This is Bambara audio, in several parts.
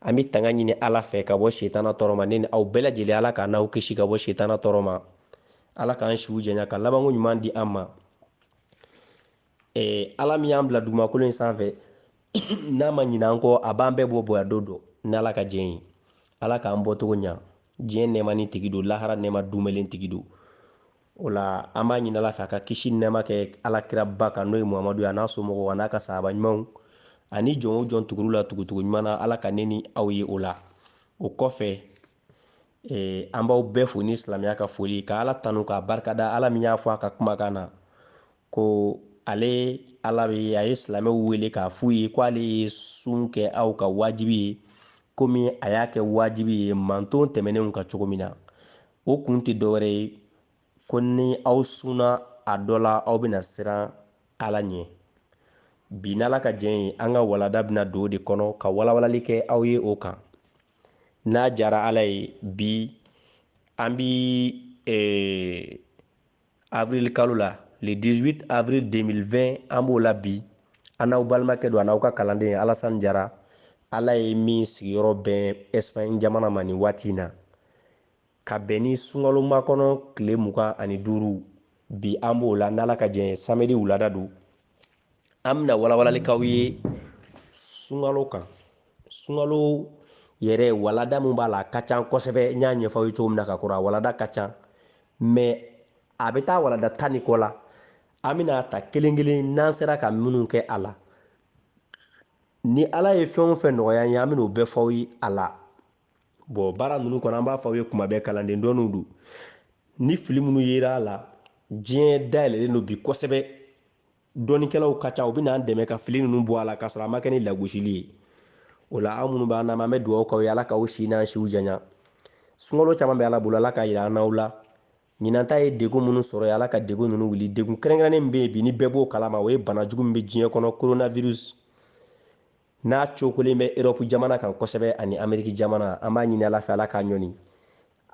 an bɛ tanga ɲini ala fɛ ka bɔ setana tɔɔrɔ ma ne ni aw bɛɛ lajɛlen ala k'an n'aw kisi ka bɔ setana tɔɔrɔ ma ala k'an siw janya ka labanko ɲuman di an ma eh, ala min y'an bila dugumakolo in sanfɛ n'a ma ɲina an kɔ a b'an bɛɛ bɔ bonya don dɔ n'ala ka jɛn ye ala k'an bɔcogo ɲa diɲɛ nɛɛmanin tigi don lahara nɛɛma dumɛlen tigi don O la an b'a ɲini ala fɛ a ka kisi nɛɛma kɛ ala kiraba kan n'o ye muhamadu ye a n'a somɔgɔw a n'a ka sahaba ɲumanw ani jɔn o jɔn tugur'u la tugutugu ɲuman na ala ka ne ni aw ye o la o kɔfɛ eh, an b'aw bɛɛ fo ni silamɛya ka foli ka ala tanu k'a barikada ala min y'a fɔ a ka kumakan na ko ale ala bɛ a ye silamɛw wele k'a f'u ye ko ale ye sun kɛ aw ka wajibi ye komi a y'a kɛ wajibi ye manton tɛmɛnenw kan cogo min na o kun tɛ dɔwɛrɛ ye ko ni aw sunna a dɔ la aw bɛna siran ala ɲɛ bi n'ala ka jɛn ye an ka walada bɛna don o de kɔnɔ ka walawalali kɛ aw ye o kan n'a jara ala ye bi an bɛ eh, avril kalo la le 18 avril 2020 an b'o la bi an n'aw balimakɛ don a n'aw ka kalanden alasani jara ala ye min sigiyɔrɔ bɛn espagne jamana ma nin waati in na ka bɛn ni sunkalomakɔnɔ tile mugan ani duuru bi an b'o la n'ala ka jɛn ye samedi wulada don an bɛna walawalali k'aw ye sunkalo kan sunkalo yɛrɛ walada min b'a la a ka ca kosɛbɛ n y'a ɲɛfɔ aw ye cogo min na ka kɔrɔ a walada ka ca mais a bɛ taa walada tan ni kɔ la an bɛna a ta kelen kelen n'an sera ka minnu kɛ a la ni ala ye fɛn o fɛn nɔgɔya an ye an bɛna o bɛɛ fɔ aw ye a la bon baara ninnu kɔnɔ an b'a fɔ aw ye tuma bɛɛ kalanden dɔɔninw don ni fili minnu yera a la diɲɛ dayɛlɛlen don bi kosɛbɛ dɔnnikɛlaw ka ca u bɛn'an dɛmɛ ka fili ninnu bɔ a la k'a sɔrɔ a ma kɛ ni lagosili ye o la aw minnu b'an lamɛn an bɛ dugawu k'aw ye ala k'aw si n'an siw janya sunkalo caman bɛ ala bolo ala k'a yira an n'aw la ɲinan ta ye degun minnu sɔrɔ yen ala ka degun ninnu wuli degun kɛrɛnkɛrɛnnen min bɛ yen bi ni bɛɛ b'o kalama o ye bana jugu min bɛ diɲɛ kɔnɔ coronavirus n'a cokolen bɛ erɔpu jamana kan kosɛbɛ ani ameriki jamana an b'a ɲini ala fɛ ala k'a ɲɔni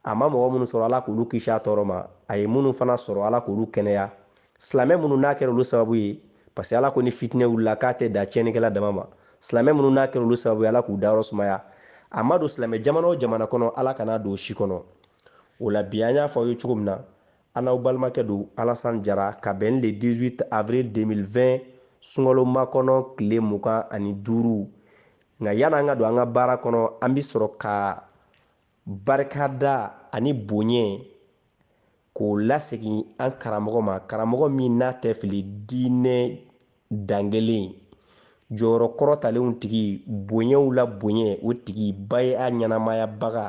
a ma mɔgɔ minnu sɔrɔ ala k'olu kisi a tɔɔrɔ ma a ye minnu fana sɔrɔ ala k'olu kɛnɛya silamɛ minnu n'a kɛra olu sababu ye parce que ala ko ni fitinɛ wulila k'a tɛ da tiɲɛnikɛla dama ma silamɛ minnu n'a kɛra olu sababu ye ala k'u dayɔrɔ sumaya a ma don silamɛ jamana o jamana kɔnɔ ala kana don o si kɔnɔ o la bi an y'a fɔ aw ye cogo min na An n'aw balimakɛ don Alasan Jara ka bɛn ni le 18 avril 2020 sunkalo makɔnɔ tile mugan ani duuru. Nka yani an ka don an ka baara kɔnɔ, an bɛ sɔrɔ ka barikada ani boɲɛ k'o lasegin an karamɔgɔ ma, karamɔgɔ min n'a tɛ fili diinɛ dangelen jɔyɔrɔ kɔrɔtalenw tigi, boɲɛw la boɲɛ o tigi, bay'a ɲɛnamayabaga,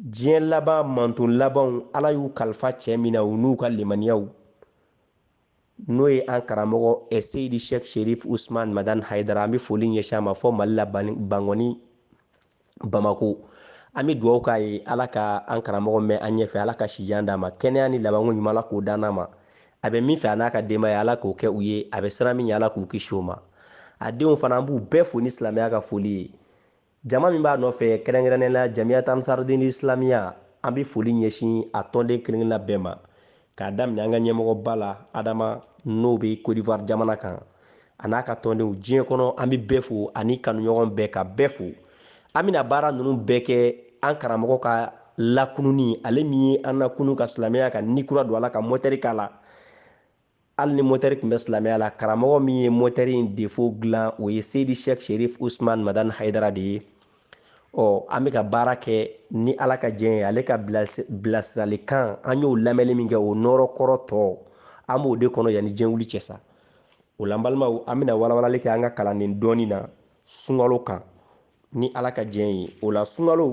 diɲɛ laban manton labanw ala y'u kalifa cɛ min na u n'u ka limaniyaw n'o ye an karamɔgɔ eh, seyidi sheikh sherif usman madan haidara an bɛ foli ɲɛsin a ma fɔ mali la bangɔni bamako an bɛ dugawu k'a ye ala ka an karamɔgɔ mɛn an ɲɛfɛ ala ka sijan d'a ma kɛnɛya ni labanko ɲuman ala k'o d'an ma a bɛ min fɛ a n'a ka denbaya ala k'o kɛ u ye a bɛ siran min ye ala k'u kisi o ma a denw fana an b'u bɛɛ fo ni silamɛya ka foli ye Jama min b'a nɔfɛ kɛrɛnkɛrɛnnenya la Jamiyat Ansardin Islamiya, an bɛ foli ɲɛsin a tɔnden kelen-kelenna bɛɛ ma, k'a daminɛ an ka ɲɛmɔgɔba la Adama, n'o bɛ Cote d'Ivoire jamana kan, a n'a ka tɔndenw. Diɲɛ kɔnɔ, an bɛ bɛɛ fo, ani kanuɲɔgɔn bɛɛ, ka bɛɛ fo. An bɛna baara ninnu bɛɛ kɛ an karamɔgɔ ka lakununni, ale min ye an lakunu ka silamɛya ka ni kura don a la, ka mɔtɛri k'a la. hali ni motɛri tun bɛ silamɛya la karamɔgɔ min ye motɛri in defo dilan o ye seyidi sheikh sherif usman madan haidara de ye ɔ an bɛ ka baara kɛ ni ala ka jɛn ye ale ka bilasiralikan an y'o lamɛnni min kɛ o nɔɔrɔ kɔrɔ tɔ an b'o de kɔnɔ yanni diɲɛ wuli cɛ sa o la an balimaw an bɛna walawalali kɛ an ka kalannin dɔɔni na sunkalo kan ni ala ka jɛn ye o la sunkalo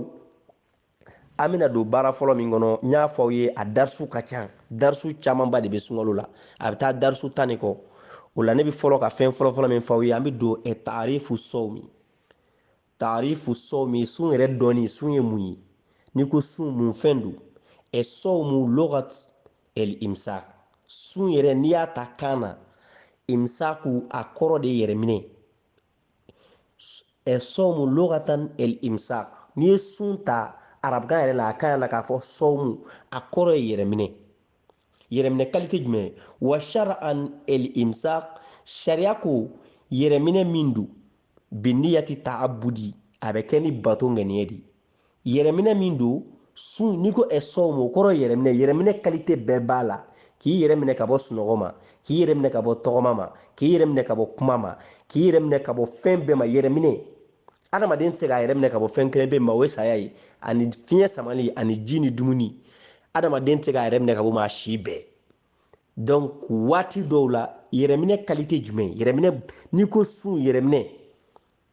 an bɛna don baara fɔlɔ min kɔnɔ n y'a fɔ aw ye a darisu ka ca darisu camanba de bɛ sunkalo la a bɛ taa darisu tan de kɔ o la ne bɛ fɔlɔ ka fɛn fɔlɔfɔlɔ min fɔ aw ye an bɛ don ɛ taarifu sɔmi taarifu sɔmi sun yɛrɛ dɔnni sun ye mun ye n'i ko sun mun fɛn don ɛ sɔmu logat el imsak sun yɛrɛ n'i y'a ta kan na imsaku a kɔrɔ de yɛrɛminɛ ɛ sɔmu lugatan el imsak n'i ye sun ta arabukan yɛrɛ la a kan yɛrɛ la k'a fɔ sɔmu a kɔrɔ ye yɛrɛminɛ yɛrɛminɛ kalite jumɛn wa shar'an el imsak sariya ko yɛrɛminɛ min don biniyati ta'abudi a bɛ kɛ ni bato ŋaniya de ye yɛrɛminɛ min don sun n'i ko ɛ sɔmu o kɔrɔ yɛrɛminɛ yɛrɛminɛ kalite bɛɛ b'a la k'i yɛrɛ minɛ ka bɔ sunɔgɔ ma k'i yɛrɛ minɛ ka bɔ tɔgɔma ma k'i yɛrɛ minɛ ka bɔ kuma ma k'i yɛrɛ minɛ ka bɔ fɛn bɛɛ ma yɛrɛminɛ adamaden tɛ se k'a yɛrɛ minɛ ka bɔ fɛn kelen pe ma o ye saya ye ani fiɲɛ samali ani ji ni dumuni adamaden tɛ se k'a yɛrɛ minɛ ka b'o ma si bɛɛ donc waati dɔw la yɛrɛminɛ kalite jumɛn yɛrɛminɛ n'i ko sun yɛrɛminɛ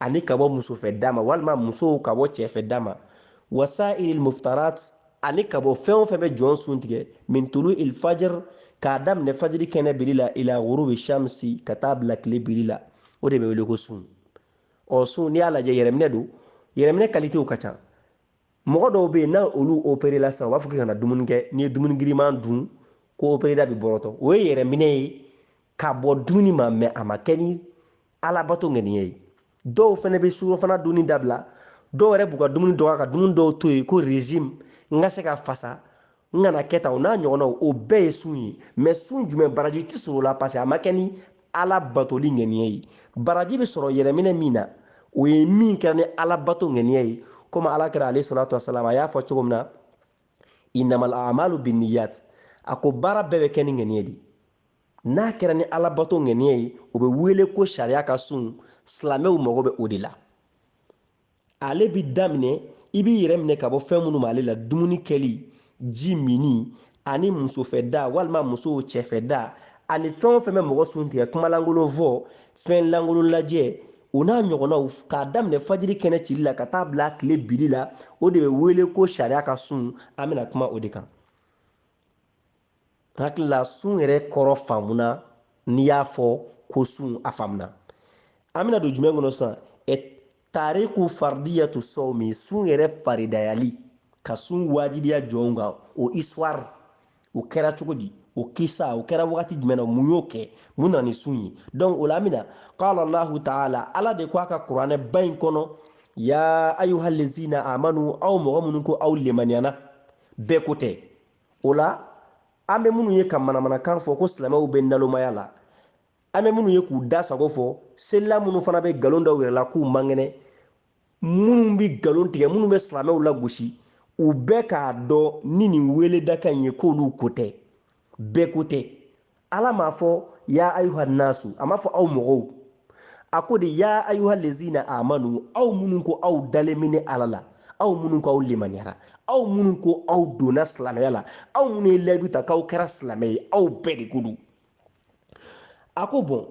ani ka bɔ muso fɛ da ma walima musow ka bɔ cɛ fɛ da ma wa sa'iril muftarat ani ka bɔ fɛn o fɛn bɛ jɔn sun tigɛ min tulu il fajr k'a daminɛ fajiri kɛnɛ cili la ila ghurubi shamsi ka taa bila tile biri la o de bɛ wele ko sun ɔ sun n'i y'a lajɛ yɛrɛminɛ don yɛrɛminɛ kalitew ka ca mɔgɔ dɔw bɛ yen n'olu operela sisan u b'a fɔ k'i kana dumuni kɛ n'i ye dumuni giriman dun ko opereda bɛ bɔrɔtɔ o ye yɛrɛminɛ ye ka bɔ dumuni ma mɛ a ma kɛ ni alabato ŋaniya ye dɔw fana bɛ surɔfana dunni dabila dɔw yɛrɛ b'u ka dumuni dɔgɔya ka dumuni dɔw to yen ko régime n ka se ka fasa n kana kɛ tan o n'a ɲɔgɔnnaw o bɛɛ ye sun ye mɛ sun jumɛn baraji tɛ sɔrɔ o la parce que a ma kɛ ni ala batoli ŋaniya ye baraji bɛ sɔrɔ yɛrɛminɛ min na o ye min kɛra ni ala bato ŋaniya ye komi ala kira alayhi salatu wasalam a y'a fɔ cogo min na innamal amalu binniyat a ko baara bɛɛ bɛ kɛ ni ŋaniya de n'a kɛra ni alabato ŋaniya ye o bɛ wele ko sariya ka sun silamɛw mago bɛ o de la ale bi daminɛ i b'i yɛrɛ minɛ ka bɔ fɛn minnu ma ale la dumuni kɛli ji minni ani musofɛ da walima musow cɛfɛ da ani fɛn o fɛn bɛ mɔgɔ sun tigɛ kumalankolon fɔ fɛn lankolon lajɛ o n'a ɲɔgɔnnaw k'a daminɛ fajiri kɛnɛ cili la ka taa bila tile biri la o de bɛ wele ko sariya ka sun an bɛna kuma o de kan n hakili la sun yɛrɛ kɔrɔ faamuna n'i y'a fɔ ko sun a faamuna an bɛna don jumɛn kɔnɔ sisan tariku fardiyatu sawmi sun yɛrɛ faridayali ka sun wajibiya jɔnw kan o histoire o kɛra cogo di o kisa o kɛra wagati jumɛn na mun y'o kɛ mun na ni sun ye donc o la an bɛna qala allahu taala ala de ko a ka kuranɛ ba in kɔnɔ ya ayuha lezina amanu aw mɔgɔ minnu ko aw lemaniyana bɛɛ ko tɛ o la an bɛ minnu ye ka manamanakan fɔ ko silamɛw bɛ nalomaya la an bɛ minnu ye k'u da sago fɔ seli la minnu fana bɛ nkalon da u yɛrɛ la k'u man kɛnɛ minnu bɛ nkalon tigɛ minnu bɛ silamɛw lagosi u bɛɛ k'a dɔn ni nin weledakan in ye k'olu ko tɛ bɛɛ ko tɛ ala m'a fɔ ya ayuha nasu a m'a fɔ aw mɔgɔw a ko de ya ayuha lezina amanu aw minnu ko aw dalen bɛ ne ala la aw minnu ko aw limaniyara aw minnu ko aw donna silamɛya la aw minnu ye layidu ta k'aw kɛra silamɛ ye aw bɛɛ de ko don a ko bɔn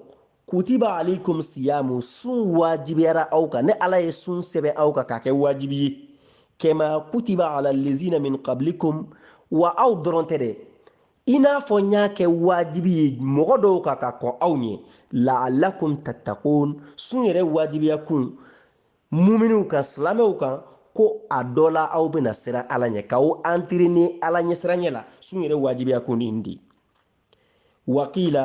kutiba alaikum siyamu sun wajibiyara aw kan ne ala ye sun sɛbɛn aw kan k'a kɛ wajibi ye kama kutiba ala lezina min qablikum wa aw dɔrɔn tɛ dɛ i n'a fɔ n y'a kɛ wajibi ye mɔgɔ dɔw kan ka kɔn aw ɲɛ laalakum tattaqun sun yɛrɛ wajibiya kun muminiw kan silamɛw kan ko a dɔ la aw bɛna siran ala ɲɛ k'aw entraîner ala ɲɛsiranɲɛ la sun yɛrɛ wajibiya kun nin de wakila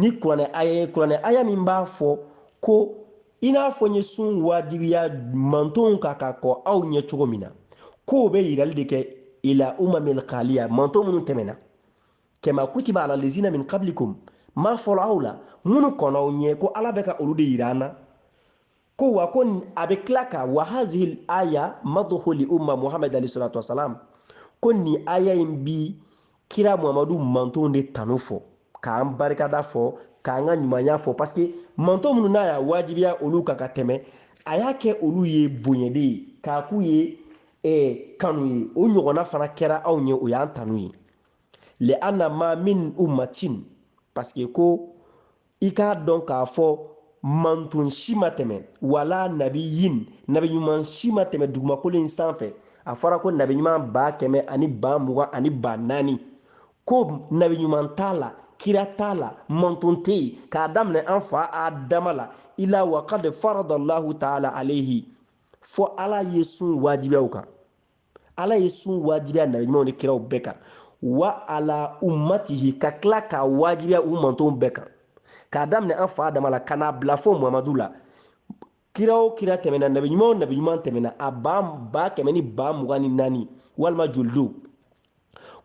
ni kuranɛ aya min b'a fɔ ko i n'a fɔ n ye sun wajibiya mantonw kan ka kɔn aw ɲɛ cogo min na k'o bɛ yirali de kɛ ila umamil kaliya manton minnu tɛmɛna kama kutiba ala lezina min kablikum ma fɔlɔ aw la minnu kɔnna aw ɲɛ ko ala bɛ ka olu de yira an na ko wa ko a bɛ tila ka wa hazihil aya maduhu li umma muhamad alayhi salatu wasalam ko nin aya in bi kira muhamadu mantonw de tanu fɔ k'an barikada fɔ k'an ka ɲumanya fɔ parce que manton minnu n'a y'a wajibiya olu kan ka tɛmɛ a y'a kɛ olu ye bonya de ye k'a k'u ye eh, kanu ye o ɲɔgɔnna fana kɛra anw ye o y'an tanu ye li anna ma min ummatin parce que ko i k'a dɔn k'a fɔ manton si ma tɛmɛ wala nabiyin nabi ɲuman si ma tɛmɛ dugumakolo in sanfɛ a fɔra ko nabi ɲuman ba kɛmɛ ani ba mugan ani ba naani ko nabi ɲuman t'a la kira t'a la manton tɛ yen k'a daminɛ an fa adama la ila wa kad faradallahu taala alayhi fo ala ye sun wajibiya u kan ala ye sun wajibiya nabi ɲumanw ni kiraw bɛɛ kan wa ala ummatihi ka tila k'a wajibiya u mantonw bɛɛ kan k'a daminɛ an fa adama la ka n'a bila fo muhamadu la kira o kira tɛmɛna nabi ɲuman o nabi ɲuman tɛmɛna a ba ba kɛmɛ ni ba mugan ni naani walima joli don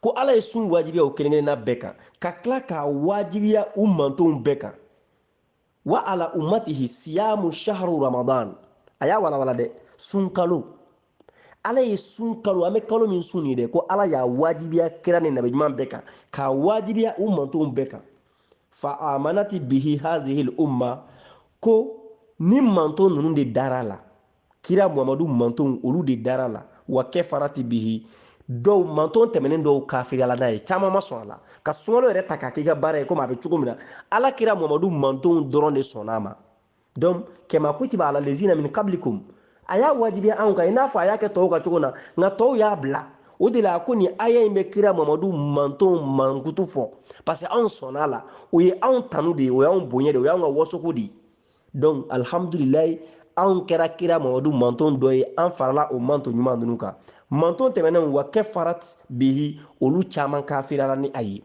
ko ala ye sun wajibiya o kelen kelenna bɛɛ kan ka tila k'a wajibiya u mantonw bɛɛ kan wa ala ummatihi siyamu shahru ramadan a y'a walawala dɛ sunkalo ala ye sun kalo an bɛ kalo min sun nin dɛ ko ala y'a wajibiya kira ni nabi ɲuman bɛɛ kan k'a wajibiya u mantonw bɛɛ kan fa amanati bihi hazihil umma ko ni manton ninnu de dara a la kira muhamadu mantonw olu de dara a la wa kafarati bihi dɔw manton tɛmɛnen dɔw kafiriyala n'a ye caman ma sɔn a la ka sunkalo yɛrɛ ta k'a k'i ka baara ye komi a bɛ cogo min na ala kira muhamadu mantonw dɔrɔn de sɔnna a ma donc kama kutiba ala lezina min kablikum a y'a wajibiya anw kan i n'a fɔ a y'a kɛ tɔw kan cogo na nka tɔw y'a bila o de la ko nin aya in bɛ kira mamadu mantonw mankutu fɔ parce que anw sɔnna a la o ye anw tanu de ye o y'anw bonya de ye o y'anw ka wasoko de ye donc alhamdulilayi anw kɛra kira mamadu manton dɔ ye an farala o manton ɲuman ninnu kan manton tɛmɛnenw wa kafarat bihi olu caman kafirala ni a ye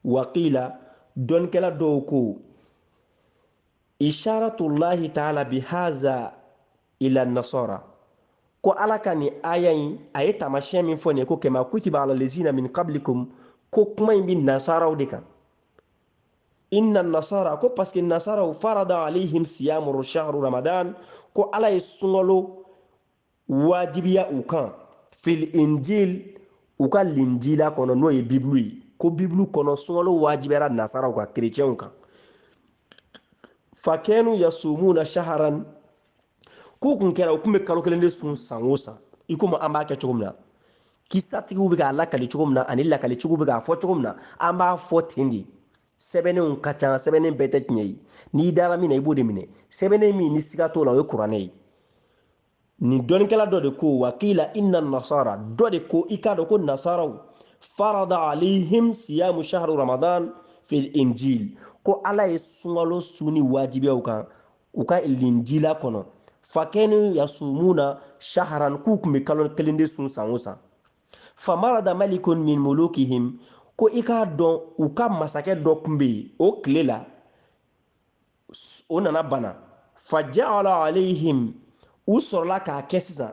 waqila dɔnnikɛla dɔw ko isharatulahi taala bihaza ila nasara ko ala ka nin aya in a ye taamasiyɛn min fɔ nin ye ko kama kutiba ala lezina min kablikum ko kuma in bi nasaraw de kan inna nasara ko parce que nasaraw farada alayhim siyamu shahru ramadan ko ala ye sunkalo wajibiya u kan fil injil u ka linjila kɔnɔ n'o ye bibulu ye ko bibulu kɔnɔ sunkalo wajibiyara nasaraw kan kerecɛnw kan fakanu yasumuna shahran k'u kun kɛra u kun bɛ kalo kelen de sun san o san i komi an b'a kɛ cogo min na kisatigiw bɛ k'a lakali cogo min na ani lakalitigiw bɛ k'a fɔ cogo min na an b'a fɔ ten de sɛbɛnnenw ka ca sɛbɛnnen bɛɛ tɛ tiɲɛ ye n'i dara min na i b'o de minɛ sɛbɛnnen min ni siga t'o la o ye kuranɛ ye nin dɔnnikɛla dɔ de ko wa qila inna nasara dɔ de ko i k'a dɔn ko nasaraw farada alayhim siyamu shahru ramadan fil injil ko ala ye sunkalo sunni wajibiya u kan u ka linjila kɔnɔ fakanu yasumuna shahran k'u kun bɛ kalo kelen de sun san o san famarada malikun min mulukihim ko i k'a dɔn u ka masakɛ dɔ kun bɛ yen o tile la o nana bana faja'ala alayhim u sɔrɔla k'a kɛ sisan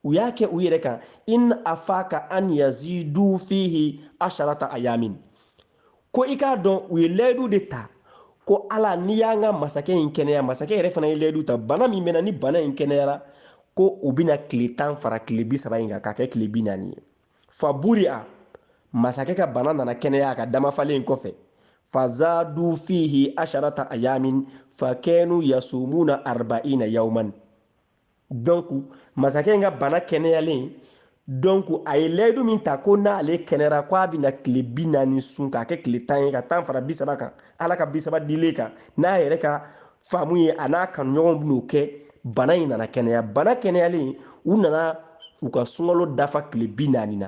u y'a kɛ u yɛrɛ kan in afaqa an yazidu fihi asharata ayamin ko i k'a dɔn u ye layidu de ta ko ala n'i y'an ka masakɛ in kɛnɛya masakɛ yɛrɛ fana ye layidu ta bana min bɛ n na ni bana in kɛnɛyara ko u bɛna tile tan fara tile bi saba in kan k'a kɛ tile bi naani ye faburi'a masakɛ ka bana nana kɛnɛya a ka damafalen kɔfɛ fazadu fihi asharata ayamin fakanu yasumuna arba'ina yawman donc masakɛ in ka bana kɛnɛyalen donc a ye layidu min ta ko n'ale kɛnɛra ko a bɛna tile bi naani sun k'a kɛ tile tan ye ka tan fara bi saba kan ala ka bi saba dilen kan n'a yɛrɛ ka faamu ye a n'a kanuɲɔgɔnw bɛn'o kɛ bana in nana kɛnɛya bana kɛnɛyalen u nana u ka sunkalo dafa tile bi naani na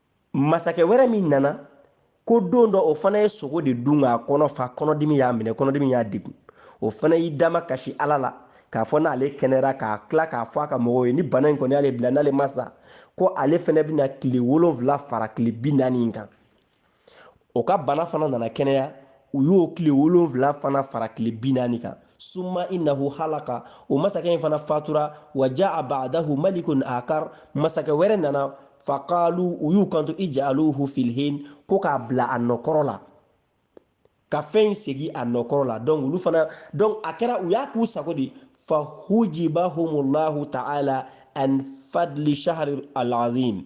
masakɛ wɛrɛ min nana ko don dɔ o fana ye sogo de dun k'a kɔnɔ fa kɔnɔdimi y'a minɛ kɔnɔdimi y'a degun o fana y'i damakasi ala la k'a fɔ n'ale kɛnɛra k'a tila k'a fɔ a ka mɔgɔw ye ni bana in kɔni y'ale bila n'ale ma sa ko ale fana bɛna tile wolonfila fara tile bi naani in kan o ka bana fana nana kɛnɛya u y'o tile wolonfila fana fara tile bi naani kan summa innahu halaka o masakɛ in fana fatura wa ja'a ba'dahu malikun akhar masakɛ wɛrɛ nana faqalu u y'u kanto ij'aluhu fil hin ko k'a bila a nɔkɔrɔ la ka fɛn in segi a nɔkɔrɔ la donc olu fana donc a kɛra u y'a k'u sago de fahujibahumullahu ta'ala an fadli shahri al-azim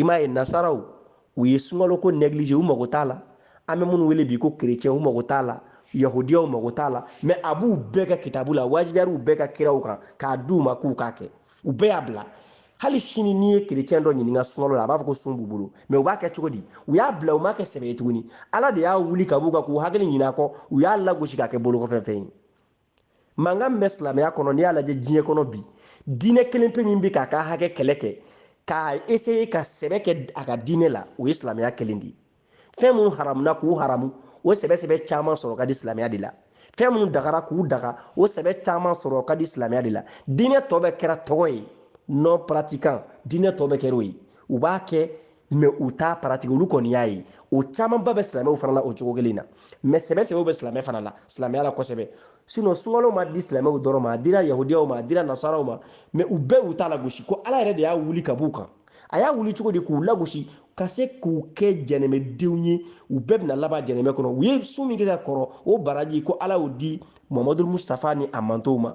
i m'a ye nasaraw u ye sunkalo ko négliger u mago t'a la an bɛ minnu wele bi ko kerecɛn u mago t'a la yahudiyaw mago t'a la mais a b'u bɛɛ ka kitabu la wajibiyara u bɛɛ ka kiraw kan k'a di u ma k'u k'a kɛ u bɛɛ y'a bila hali sini n'i ye kerecɛn dɔ ɲininka sunkalo la a b'a fɔ ko sun b'u bolo mais u b'a kɛ cogo di u y'a bila u m'a kɛ sɛbɛ ye tuguni ala de y'a wuli ka b'u kan k'u hakili ɲin'a kɔ u y'a lagosi k'a kɛ bolokɔfɛfɛn ye mankan min bɛ silamɛya kɔnɔ n'i y'a lajɛ diɲɛ kɔnɔ bi diinɛ kelen pe min bɛ k'a ka hakɛ kɛlɛ kɛ k'a essayer ka sɛbɛ kɛ a ka diinɛ la o ye silamɛya kelen de ye fɛn minnu haramuna k'u haramu o sɛbɛ sɛbɛ caman sɔrɔ ka di silamɛya de la fɛn minnu dagara k'u daga o sɛbɛ caman sɔrɔ ka di silamɛya de la diinɛ tɔ bɛɛ kɛra tɔgɔ ye non pratiquant diinɛ tɔ bɛɛ kɛra o ye u b'a kɛ mais u t'a pratiquer olu kɔni y'a ye o camanba bɛ silamɛw fana la o cogo kelen na mais sɛbɛ sɛbɛw bɛ silamɛ fana la silamɛya la kosɛbɛ sinon sunkalo ma di silamɛw dɔrɔn ma a dira yahudiyaw ma a dira nasaraw ma mais u bɛɛ u t'a lagosi ko ala yɛrɛ de y'a wuli ka b'u kan a y'a wuli cogo di k'u lagosi ka se k'u kɛ jɛnɛmɛdenw ye u bɛɛ bɛna laban jɛnɛmɛ kɔnɔ u ye sun min kɛ ka kɔrɔ o baraji ko ala y'o di muhamadu mustafa ni a mantɔnw ma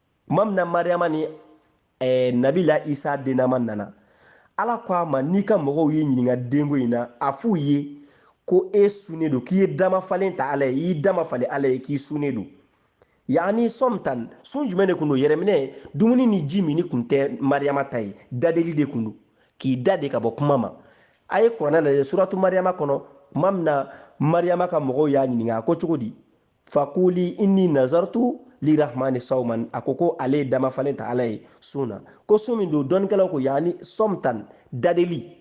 tuma min na mariyama ni eh, nabila isa dennama nana ala ko a ma n'i ka mɔgɔw y'i ɲininka denko in na a f'u ye ko e sunnen don k'i ye damafalen ta ala ye i y'i damafalen ala ye k'i sunnen don yaani sɔmtan sun jumɛn de kun don yɛrɛminɛ dumuni ni jimin kun tɛ mariyama ta ye dadeli de kun don k'i da de ka bɔ kuma ma a ye kuranɛ lajɛ suratu mariyama kɔnɔ tuma min na mariyama ka mɔgɔw y'a ɲininka a ko cogo di fakuli inni nazartu lirahmani sauman a ko ko ale ye damafalen ta ala ye sun na ko sun min don dɔnnikɛlaw ko yaani sɔmtan dadeli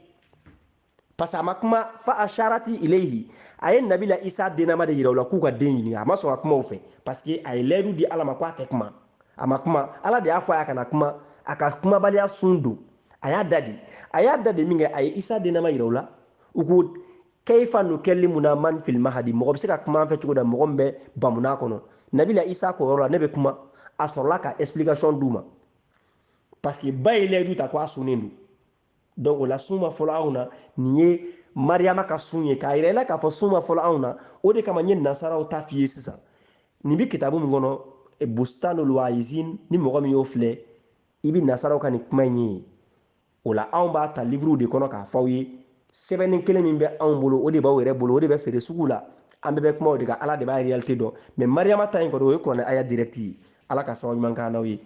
parce que a ma kuma fa asharati ilayhi a ye nabila isa dennama de yira u la k'u ka den ɲininka a ma sɔn ka kuma u fɛ parce que a ye layidu di ala ma ko a tɛ kuma a ma kuma ala de y'a fɔ a y'a kana kuma a ka kumabaliya sun don a y'a da de a y'a da de min kɛ a ye isa dennama yira u la u ko kayfa nukallimuna man fil mahadi mɔgɔ bɛ se ka kuma an fɛ cogo di mɔgɔ min bɛ bamunan kɔnɔ nabila isa k'o yɔrɔ la ne bɛ kuma a sɔrɔla ka explication d'u ma parce que ba ye layidu ta ko a sunnen don donc o la sun ma fɔlɔ anw na nin ye mariyama ka sun ye k'a yira i la k'a fɔ sun ma fɔlɔ anw na o de kama n ye nasaraw ta f'i ye sisan nin bɛ kitabu min kɔnɔ bustanul waizin ni mɔgɔ min y'o filɛ i bɛ nasaraw ka nin kuma in ye o la anw b'a ta liviriw de kɔnɔ k'a f'aw ye sɛbɛnni kelen min bɛ anw bolo o de b'aw yɛrɛ bolo o de bɛ feere sugu la an bɛɛ bɛ kuma o de kan ala de b'a réalité dɔn mais mariyama ta in kɔni o ye kuranɛ aya direct ye ala ka sababu ɲuman k'an n'aw ye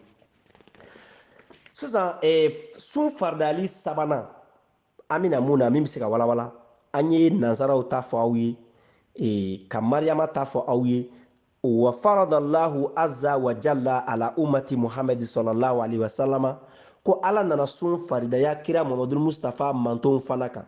sisan eh, sun faridali sabanan an bɛna mun na min bɛ se ka walawala an ye nansaraw ta fɔ aw ye eh, ka mariyama ta fɔ aw ye wa faradallahu azza wa jalla ala ummati muhamadi sallallahu alaihi wasallama ko ala nana sun faridaya kira mamadu mustafa mantonw fana kan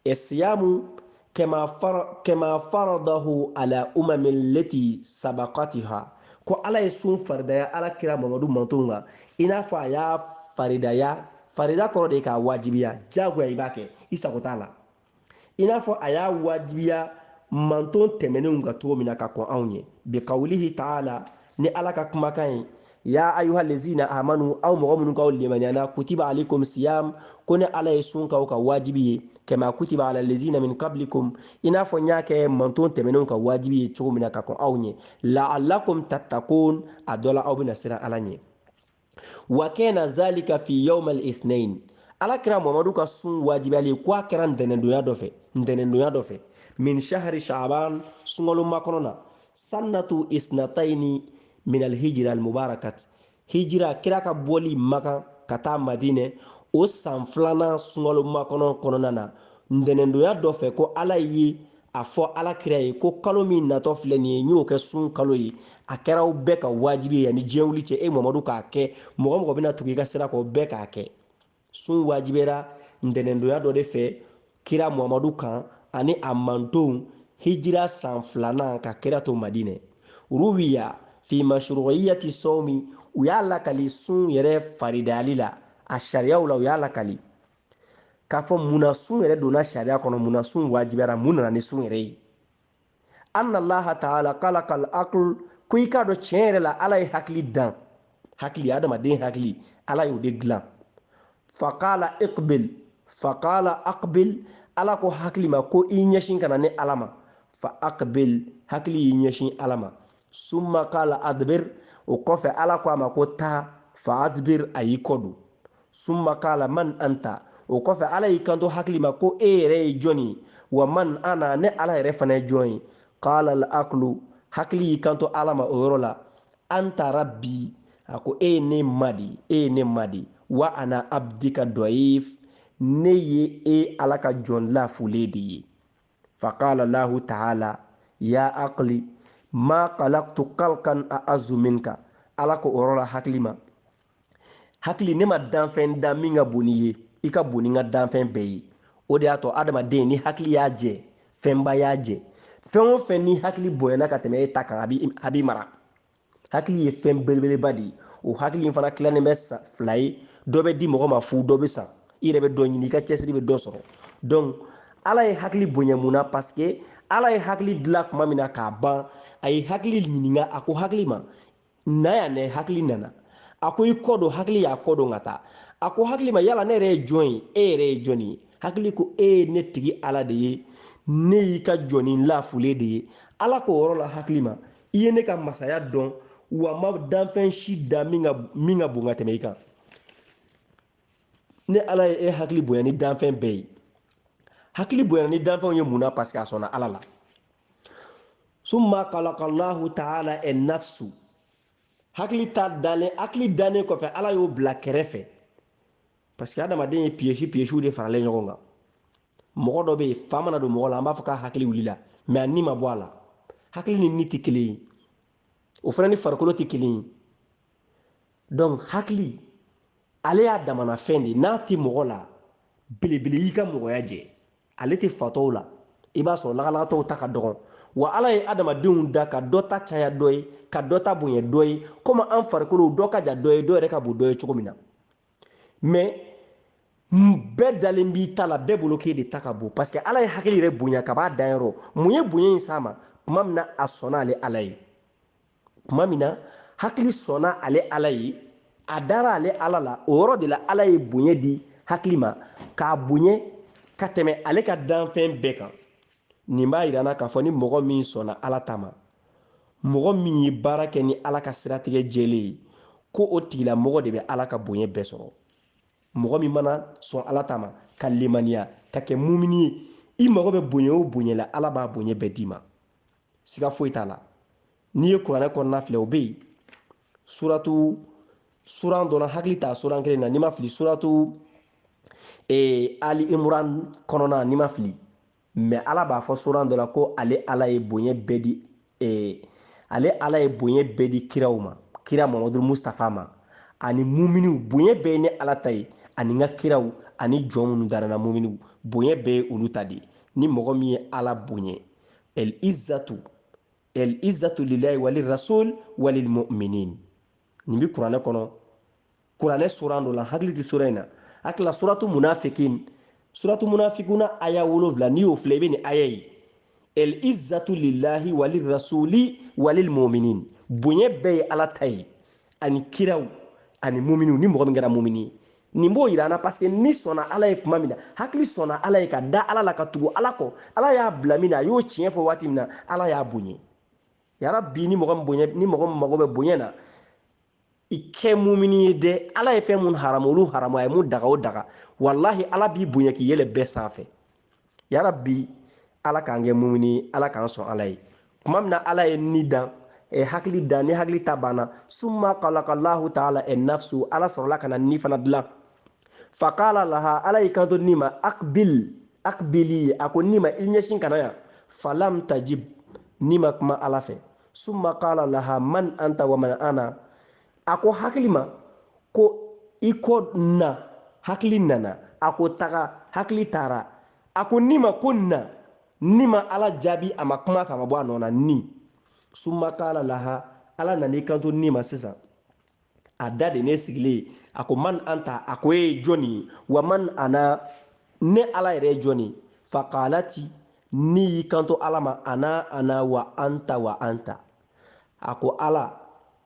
esiyamu kama faradahu ala umami leti sabakatiha ko ala ye sun faridaya ala kira mamadu mantonw kan i n'a fɔ a y'a faridaya farida kɔrɔ de ye k'a wajibiya jagoya i b'a kɛ i sago t'a la i n'a fɔ a y'a wajibiya manton tɛmɛnenw kan cogo min na ka kɔn anw ɲɛ bi kawulihi taala ni ala ka kumakan ye ya ayuha lezina amanu aw mɔgɔ minnu k'aw limaniyana kutiba alikum siyam ko ne ala ye sun k'aw ka wajibi ye kama kutiba ala lezina min kablikum i n'a fɔ n y'a kɛ manton tɛmɛnenw ka wajibi ye cogo min na ka kɔn aw ɲɛ laalakum tattakun a dɔ la aw bɛna siran ala ɲɛ wa kana zalika fi yawm al-ithnain ala kira mamadu ka sun wajibiyali ko a kɛra ntɛnɛndonya dɔ fɛ min shahari shaaban sunkalo makɔnɔ na sannatu isnatayini min alhijira almubarakat hijira kira ka bɔli makan ka taa madinɛ o san filanan sunkalo makɔnɔ kɔnɔna na ntɛnɛndonya dɔ fɛ ko ala ye a fɔ ala kira ye ko kalo min natɔ filɛ nin ye n y'o kɛ sun kalo ye a kɛra aw bɛɛ ka wajibi ye yanni diɲɛ wuli cɛ e mamadu k'a kɛ mɔgɔ o mɔgɔ bɛna tugu i ka sira kɔ bɛɛ k'a kɛ sun wajibiyara ntɛnɛndonya dɔ de fɛ kira mamadu kan ani a mantonw hijira san filanan ka kira to madinɛ ruwiya fi mashruiyati sawmi u y'a lakali sun yɛrɛ faridayali la a sariyaw la u y'a lakali k'a fɔ mun na sun yɛrɛ donna sariya kɔnɔ mun na sun wajibiyara mun nana ni sun yɛrɛ ye anna allaha taala kalakal akl ko i k'a dɔn tiɲɛ yɛrɛ la ala ye hakili dan hakili adamaden hakili ala y'o de dilan fakala ikbil fakala akbil ala ko hakili ma ko i ɲɛsin ka na ne ala ma fa akbil hakili y'i ɲɛsin ala ma summa kala adbir o kɔfɛ ala ko a ma ko taa fa adbir a y'i kɔ don summa kala man anta o kɔfɛ ala y'i kanto hakili ma ko e yɛrɛ ye jɔn ye wa man ana ne ala yɛrɛ fana ye jɔn ye kala al aklu hakili y'i kanto ala ma o yɔrɔ la anta rabbi a ko e ye ne ma de e ye ne ma de wa ana abdika dɔif ne ye e ala ka jɔn lafulen de ye fakala lahu taala ya akli ma kalaktu kalkan a azu minka ala ko o yɔrɔ la hakili ma hakili ne ma danfɛn da min ka bon n'i ye i ka bon ni n ka danfɛn bɛɛ ye o de y'a to adamaden ni hakili y'a jɛ fɛnba y'a jɛ fɛn o fɛn ni hakili bonyana ka tɛmɛ e ta kan a b'i mara hakili ye fɛn belebeleba de ye o hakili in fana tilannen bɛ sa fila ye dɔ bɛ di mɔgɔ ma fu dɔ bɛ san i yɛrɛ bɛ dɔ ɲini i ka cɛsiri bɛ dɔ sɔrɔ donc ala ye hakili bonya mun na parce que ala ye hakili dilan tuma min na k'a ban a ye hakili ɲininka a ko hakili ma na yan dɛ hakili nana a ko i kɔ don hakili y'a kɔ don ka taa a ko hakili ma yala ne yɛrɛ ye jɔn ye e yɛrɛ ye jɔni ye hakili ko e ye ne tigi ala de ye ne y'i ka jɔnnin lafulen de ye ala k'o yɔrɔ la hakili ma i ye ne ka masaya dɔn wa n ma danfɛn si da min ka min ka bon ka tɛmɛ i kan ne ala ye e hakili bonya ni danfɛn bɛɛ ye hakili bonya ni danfɛnw ye mun na parce que a sɔnna ala la summa kalakallahu taala annafsu hakili ta dalen hakili dalen kɔfɛ ala y'o bila kɛrɛfɛ parce que adamaden ye piyesi piyesiw de faralen ɲɔgɔn kan mɔgɔ dɔ bɛ yen fa mana don mɔgɔ la an b'a fɔ k'a hakili wulila mais a ni ma bɔ a la hakili ni ni tɛ kelen ye o fana ni farikolo tɛ kelen ye donc hakili ale y'a damana fɛn de n'a tɛ mɔgɔ la belebele y'i ka mɔgɔya jɛ ale tɛ fatɔw la i b'a sɔrɔ lagalagatɔw ta ka dɔgɔn wa ala ye adamadenw da ka dɔ ta caya dɔ ye ka dɔ ta bonya dɔ ye komi an farikolow dɔ ka jan dɔ ye dɔ yɛrɛ ka bon dɔ ye cogo min na mais bɛɛ dalen b'i ta la bɛɛ bolo k'e de ta ka bon parce que ala ye hakili yɛrɛ bonya ka b'a dayɔrɔ mun ye bonya in s'a ma tuma min na a sɔnna ale ala ye tuma min na hakili sɔnna ale ala ye a dara ale ala la o yɔrɔ de la ala ye bonya di hakili ma k'a bonya ka tɛmɛ ale ka danfɛn bɛɛ kan nin b'a yira an na k'a fɔ ni mɔgɔ min sɔnna ala ta ma mɔgɔ min ye baara kɛ ni ala ka siratigɛ jɛlen ye ko o tigilamɔgɔ de bɛ ala ka bonya bɛɛ sɔrɔ mɔgɔ min mana sɔn ala ta ma ka lemaniya ka kɛ mumini ye i mago bɛ bonya o bonya la ala b'a bonya bɛɛ d'i ma siga foyi t'a la n'i ye kuranɛ kɔnɔna filɛ o bɛ yen suratu suran dɔ la n hakili t'a suran kelen na ni n ma fili suratu ee ali imran kɔnɔna ni n ma fili mais ala b'a fɔ suran dɔ la ko ale ala ye bonya bɛɛ di ee ale ala ye bonya bɛɛ di kiraw ma kira mamadu mustafa ma ani muminiw bonya bɛɛ ye ne ala ta ye ani n ka kiraw ani jɔn minnu dara n na muminiw bonya bɛɛ ye olu ta de ye ni mɔgɔ min ye ala bonya El izatu el izatu lilahi wali rasul wali mu'minin nin bi kuranɛ kɔnɔ kuranɛ suran dɔ la hakili ti sura in na hakila suratu munafikin suratu munafikuna aya wolonwula n'i y'o filɛ i bɛ nin aya ye el izatu lilahi wali rasuli wali mu'minin bonya bɛɛ ye ala ta ye ani kiraw ani muminiw ni mɔgɔ min kɛra mumini ye nin b'o yira an na paseke ni sɔnna ala ye kuma min na hakili sɔnna ala ye ka da ala la ka tugu ala kɔ ala y'a bila min na a y'o tiɲɛ fɔ waati min na ala y'a bonya yarabi ni mɔgɔ min mago bɛ bonya na i kɛ mumini ye dɛ ala ye fɛn mun haramu olu haramu a ye mun daga o daga walahi ala b'i bonya k'i yɛlɛ bɛɛ sanfɛ yarabi ala k'an kɛ mumini ala k'an sɔn ala ye kuma min na ala ye ni dan e hakili dan ni hakili ta banna summa kalakalahu taala en nafsu ala sɔrɔla ka na ni fana dilan fakala laha ala y'i kanto ni ma akbil akbili a ko ni ma i ɲɛsin ka na yan falam tajib ni ma kuma ala fɛ summa kala laha man anta wa man ana a ko hakili ma ko i ka na hakili nana a ko taga hakili taara a ko ni ma ko na ni ma ala jaabi a ma kuma a fɛ a ma bɔ a nɔ na ni summa kala laha ala nan'i kanto ni ma sisan a da de ne sigilen a ko man anta a ko e ye jɔni ye wa man ana ne ala yɛrɛ ye jɔni fakalati ni y'i kanto ala ma ana ana wa anta wa anta a ko ala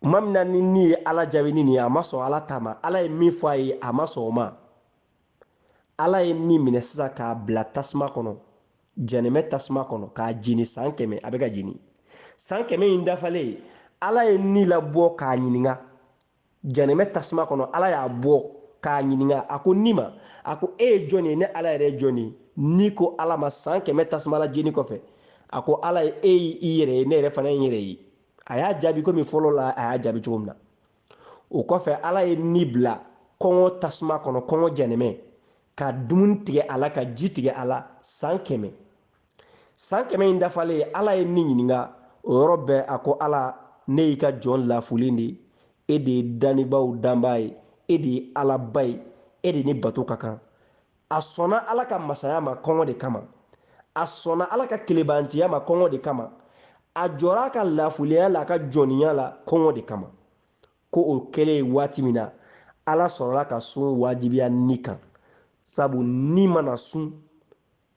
kuma min na ni ni ye ala jaabi ni nin ye a ma sɔn ala ta ma ala ye min fɔ a ye a ma sɔn o ma ala ye ni minɛ sisan k'a bila tasuma kɔnɔ janɛmɛ tasuma kɔnɔ k'a jeni san kɛmɛ a bɛ ka jeni san kɛmɛ in dafalen ala ye ni labɔ k'a ɲininka janɛmɛ tasuma kɔnɔ ala y'a bɔ k'a ɲininka a ko ni ma a ko e ye jɔn ye ne ala yɛrɛ ye jɔn ye ni ko ala ma san kɛmɛ tasuma la jeni kɔfɛ a ko ala ye e y'i yɛrɛ ye ne yɛrɛ fana ye n yɛrɛ ye a y'a jaabi komi fɔlɔ la a y'a jaabi cogo min na o kɔfɛ ala ye ni bila kɔngɔ tasuma kɔnɔ kɔngɔ jɛnɛmɛ ka dumuni tigɛ a la ka ji tigɛ a la san kɛmɛ san kɛmɛ in dafalen ala ye ni ɲininka o yɔrɔ bɛɛ a ko ala ne y'i ka jɔn lafulen de e de ye danibaaw danbaa ye e de ye alaba ye e de ni bato ka kan a sɔnna ala ka masaya ma kɔngɔ de kama a sɔnna ala ka kelenbantiya ma kɔngɔ de kama a jɔra a ka lafuliya la a ka jɔniya la kɔngɔ de kama ko o kɛlen ye waati min na ala sɔrɔla ka sun wajibiya ni kan sabu ni mana sun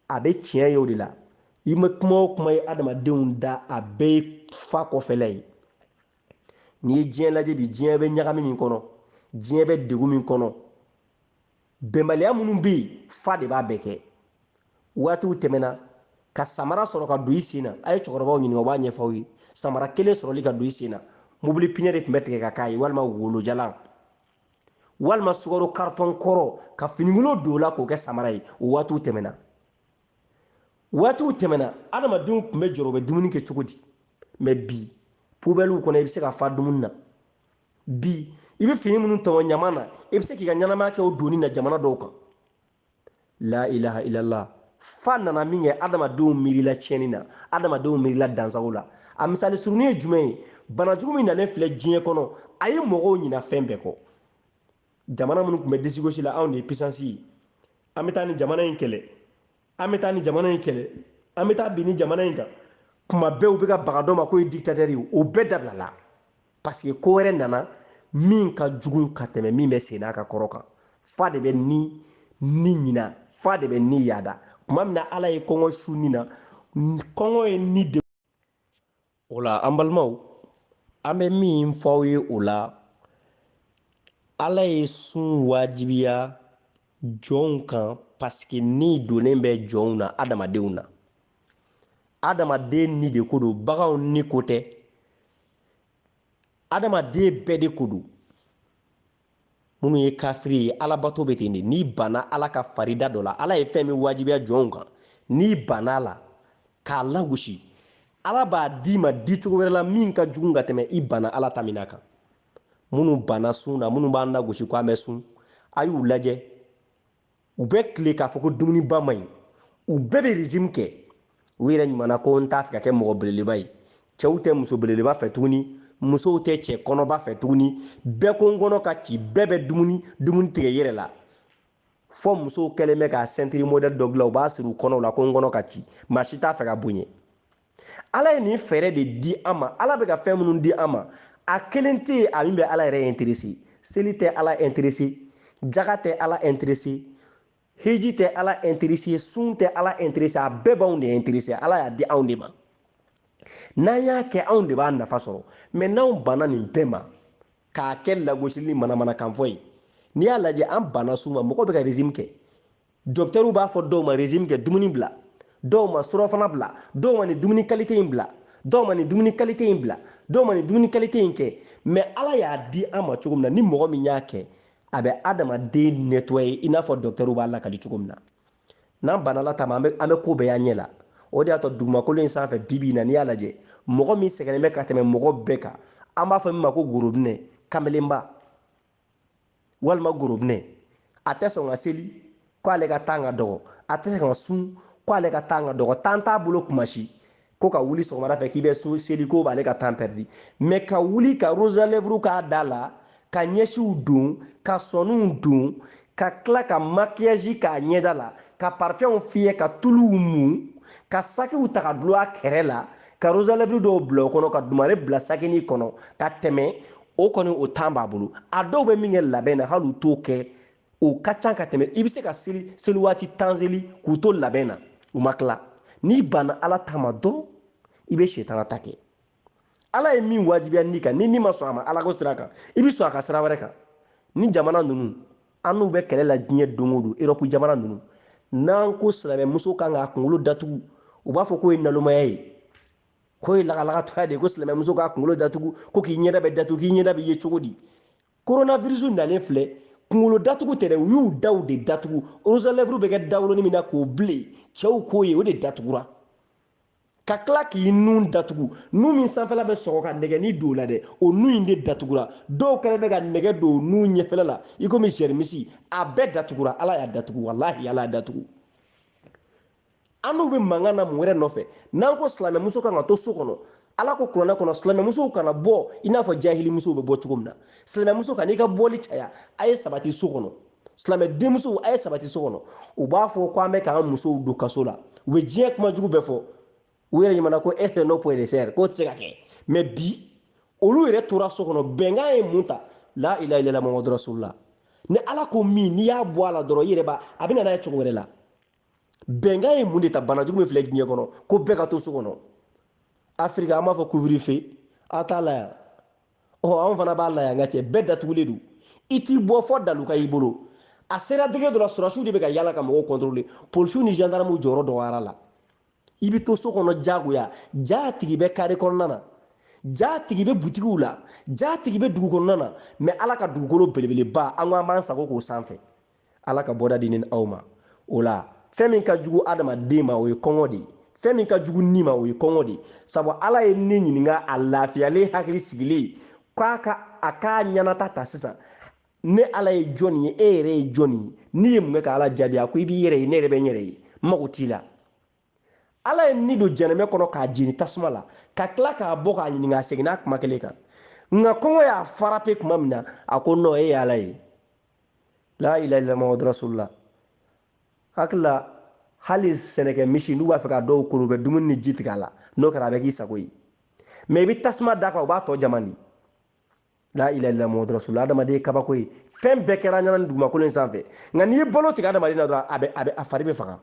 a bɛ tiɲɛ ye o de la i ma kuma o kuma ye adamadenw da a bɛɛ ye fa kɔfɛla ye n'i ye diɲɛ lajɛ bi diɲɛ bɛ ɲagami min kɔnɔ diɲɛ bɛ degun min kɔnɔ bɛnbaliya minnu bɛ yen fa de b'a bɛɛ kɛ waatiw tɛmɛna ka samara sɔrɔ ka don i sen na a ye cɛkɔrɔbaw ɲininka u b'a ɲɛfɔ aw ye samara kelen sɔrɔli ka don i sen na mobili piɲɛ de tun bɛ tigɛ ka k'a ye walima wolojalan walima sukaro karitɔn kɔrɔ ka finikolon don o la k'o kɛ samara ye o waatiw tɛmɛna waatiw tɛmɛna adamadenw tun bɛ jɔrɔ u bɛ dumuni kɛ cogo di mɛ bi pubɛliw kɔnɔ i bɛ se ka fa dumuni na bi i bɛ fini minnu tɔmɔ ɲama na i bɛ se k'i ka ɲɛnamaya kɛ o donni na jamana dɔw kan la ilaha illallah fa nana min kɛ adamadenw miirila tiɲɛni na adamadenw miirila dansago la a misali surunin ye jumɛn ye bana jugu min nalen filɛ diɲɛ kɔnɔ a ye mɔgɔw ɲina fɛn bɛɛ kɔ jamana minnu tun bɛ disigosi la anw de ye pisansi ye an bɛ taa nin jamana in kɛlɛ an bɛ taa nin jamana in kɛlɛ an bɛ taa bin nin jamana in kan kuma bɛɛ u bɛ ka baga dɔ ma k'o ye diktatɛri ye o bɛɛ dabilala paseke ko wɛrɛ nana min ka jugu ka tɛmɛ min bɛ senna ka kɔrɔ kan fa de bɛ ni ni ɲina fa de bɛ ni yaada kuma min na ala ye kɔngɔ su ni na kɔngɔ ye ni de o la an balimaw an bɛ min fɔ aw ye o la ala ye sun wajibiya jɔnw kan paseke ni donnen bɛ jɔnw na adamadenw na adamaden ni de ko don baganw ni ko tɛ adamaden bɛɛ de ko don minnu ye kafiri ye alabato bɛ ten de n'i banna ala ka farida dɔ la ala ye fɛn min wajibiya jɔnw kan n'i banna a la k'a lagosi ala b'a d'i ma di cogo wɛrɛ la min ka jugu ka tɛmɛ i banna ala ta min na kan minnu banna sun na minnu b'an lagosi ko an bɛ sun a y'u lajɛ u bɛ tile k'a fɔ ko dumuniba man ɲi u bɛɛ bɛ rizime kɛ u yɛrɛ ɲuman na ko n t'a fɛ ka kɛ mɔgɔ belebeleba ye cɛw tɛ muso belebeleba fɛ tuguni musow tɛ cɛ kɔnɔba fɛ tuguni bɛɛ ko n kɔnɔ ka ci bɛɛ bɛ dumuni dumuni tigɛ yɛrɛ la fo musow kɛlen bɛ ka sɛntiri modɛli dɔ dilan u b'a siri u kɔnɔw la ko n kɔnɔ ka ci maa si t'a fɛ ka bonya ala ye nin fɛɛrɛ de di an ma ala bɛ ka fɛn minnu di an ma a kelen tɛ yen a min bɛ ala yɛrɛ interese seli tɛ ala interese jaga tɛ ala interese heji tɛ ala interese sun tɛ ala interese a bɛɛ b'anw de interese ala y'a di anw de ma n'an y'a kɛ anw de b'a nafa sɔrɔ mɛ n'anw banna nin bɛɛ ma k'a kɛ lagosili ni manamanakanfɔ ye n'i y'a lajɛ an banna sun ma mɔgɔ bɛ ka rezime kɛ dɔkitɛriw b'a fɔ dɔw ma rezime kɛ dumuni bila dɔw ma surɔfana bila dɔw ma nin dumuni kalite in bila dɔw ma nin dumuni kalite in bila dɔw ma nin dumuni kalite in kɛ mɛ ala y'a di an ma cogo min na ni mɔgɔ min y'a kɛ a bɛ adamaden netwaye i n'a fɔ dɔkitɛriw b'a lakali cogo min na n'an banna ala ta ma an bɛ ko bɛɛ y'an ɲɛ la o de y'a to dugumakolo in sanfɛ bibi in na n'i y'a lajɛ mɔgɔ min sɛgɛnnen bɛ ka tɛmɛ mɔgɔ bɛɛ kan an b'a fɔ min ma ko gorobinɛ kamelenba walima gorobinɛ a tɛ sɔn ka seli ko ale ka tan ka dɔgɔ a tɛ se ka sun ko ale ka tan ka dɔgɔ tan t'a bolo kuma si ko ka wuli sɔgɔmada fɛ k'i bɛ sun seli ko b'ale ka tan pɛridi mɛ ka wuli ka rosalɛvuru k'a da la ka ɲɛsiw don ka sɔniw don ka tila ka makiyaji k'a ɲɛda la ka parifɛnw fiyɛ ka tuluw mun ka sakiw ta ka dulon a kɛrɛ la ka rosalɛvuru dɔw bila o kɔnɔ ka dumare bila sakini kɔnɔ ka tɛmɛ o kɔni o tan b'a bolo a dɔw bɛ min kɛ labɛn na hali u t'o kɛ o ka ca ka tɛmɛ i bɛ se ka seli seli waati tan seli k'u to labɛn na u ma tila n'i banna ala ta ma dɔrɔn i bɛ sitana ta kɛ ala ye min wajibiya ni kan ni ni ma sɔn a ma ala ko sira kan i bɛ sɔn a ka sira wɛrɛ kan ni jamana ninnu an n'u bɛ kɛlɛ la diɲɛ don o don erɔpu jamana ninnu n'an ko silamɛmuso kan k'a kunkolo datugu u b'a fɔ k'o ye nalomaya ye k'o ye lagalagatɔya de ye ko silamɛmuso k'a kunkolo datugu ko k'i ɲɛda bɛ datugu k'i ɲɛda bɛ ye cogo di coronavirus nalen filɛ kunkolo datugu tɛ dɛ u y'u daw de datugu rosalɛvuru bɛ kɛ dawolonin min na k'o bilen cɛw k'o ye o de datugura ka tila k'i nun datugu nun min sanfɛla bɛ sɔgɔ ka nɛgɛni don o la dɛ o nun in de datugura dɔw kɛlen bɛ ka nɛgɛ don o nun ɲɛfɛla la i komi sɛrimisi a bɛɛ datugura ala y'a datugu walahi ala y'a datugu an n'u bɛ mankan na mun wɛrɛ nɔfɛ n'an ko silamɛmuso kan ka to so kɔnɔ ala ko kuranɛ kɔnɔ silamɛmusow kana bɔ i n'a fɔ jahilimusow bɛ bɔ cogo min na silamɛmuso kan'i ka bɔli caya a ye sabati so kɔnɔ silamɛ denmusow a ye sabati so kɔnɔ u b'a fɔ ko an bɛ k'an musow don kaso la u bɛ diɲɛ kuma jugu bɛɛ fɔ u yɛrɛ ɲamana ko e tɛ n'o poye de sɛri k'o tɛ se ka kɛ mɛ bi olu yɛrɛ tora so kɔnɔ bɛnkan ye mun ta la ilaha illallah muhammadu rasulullah ni ala ko min n'i y'a bɔ a la dɔrɔn i yɛrɛ b'a a bɛ na n'a ye cogo wɛrɛ la bɛnkan ye mun de ta banajugu min filɛ diɲɛ kɔnɔ ko bɛɛ ka to so kɔnɔ afirika an b'a fɔ kuviri fe a t'a la yan ɔ anw fana b'a la yan kartiye bɛɛ datugulen don i tɛ bɔ fɔ dalu ka y'i bolo a sera degere dɔ la sɔrɔsiw de bɛ ka yala ka mɔgɔw kɔntorole polisiw ni zandaramuw jɔyɔrɔ dɔgɔyara la i bɛ to so kɔnɔ jagoya jaa tigi bɛ kare kɔnɔna na jaa tigi bɛ butigiw la jaa tigi bɛ dugu kɔnɔna na mɛ ala ka dugukolo belebeleba an ko an b'an sago k'o sanfɛ ala ka bɔda di n ni aw ma o la fɛn min ka jugu adamaden ma o ye kɔngɔ de ye fɛn min ka jugu ni ma o ye kɔngɔ de ye sabu ala ye ni ɲininka a lafiyalen hakili sigilen k'a ka a k'a ɲɛnata ta sisan ne ala ye jɔni ye e yɛrɛ ye jɔni ye ni ye mun kɛ ka ala jaabi a ko i b'i yɛrɛ ye ne yɛrɛ bɛ n yɛrɛ ye n mago t'i la ala ye ni don jɛnɛmɛ kɔnɔ k'a jeni tasuma la ka tila k'a bɔ k'a ɲininka a seginna a kuma kelen kan nka kɔngɔ y'a farape tuma min na a ko nɔ e ye ala ye la ilaha illallah muhammadu rasulullah hakili la hali sɛnɛkɛ misi n'u b'a fɛ ka dɔw kolo u bɛ dumuni ni ji tigɛ a la n'o kɛra a bɛ k'i sago ye mɛ i bɛ tasuma d'a kan o b'a tɔ jama di la ilaha illallah muhamadu rasulullah adamaden ye kabako ye fɛn bɛɛ kɛra ɲana ni dugumakolo in sanfɛ nka n'i ye balo tigɛ adamaden na dɔrɔn a bɛ a bɛ a fari bɛ faga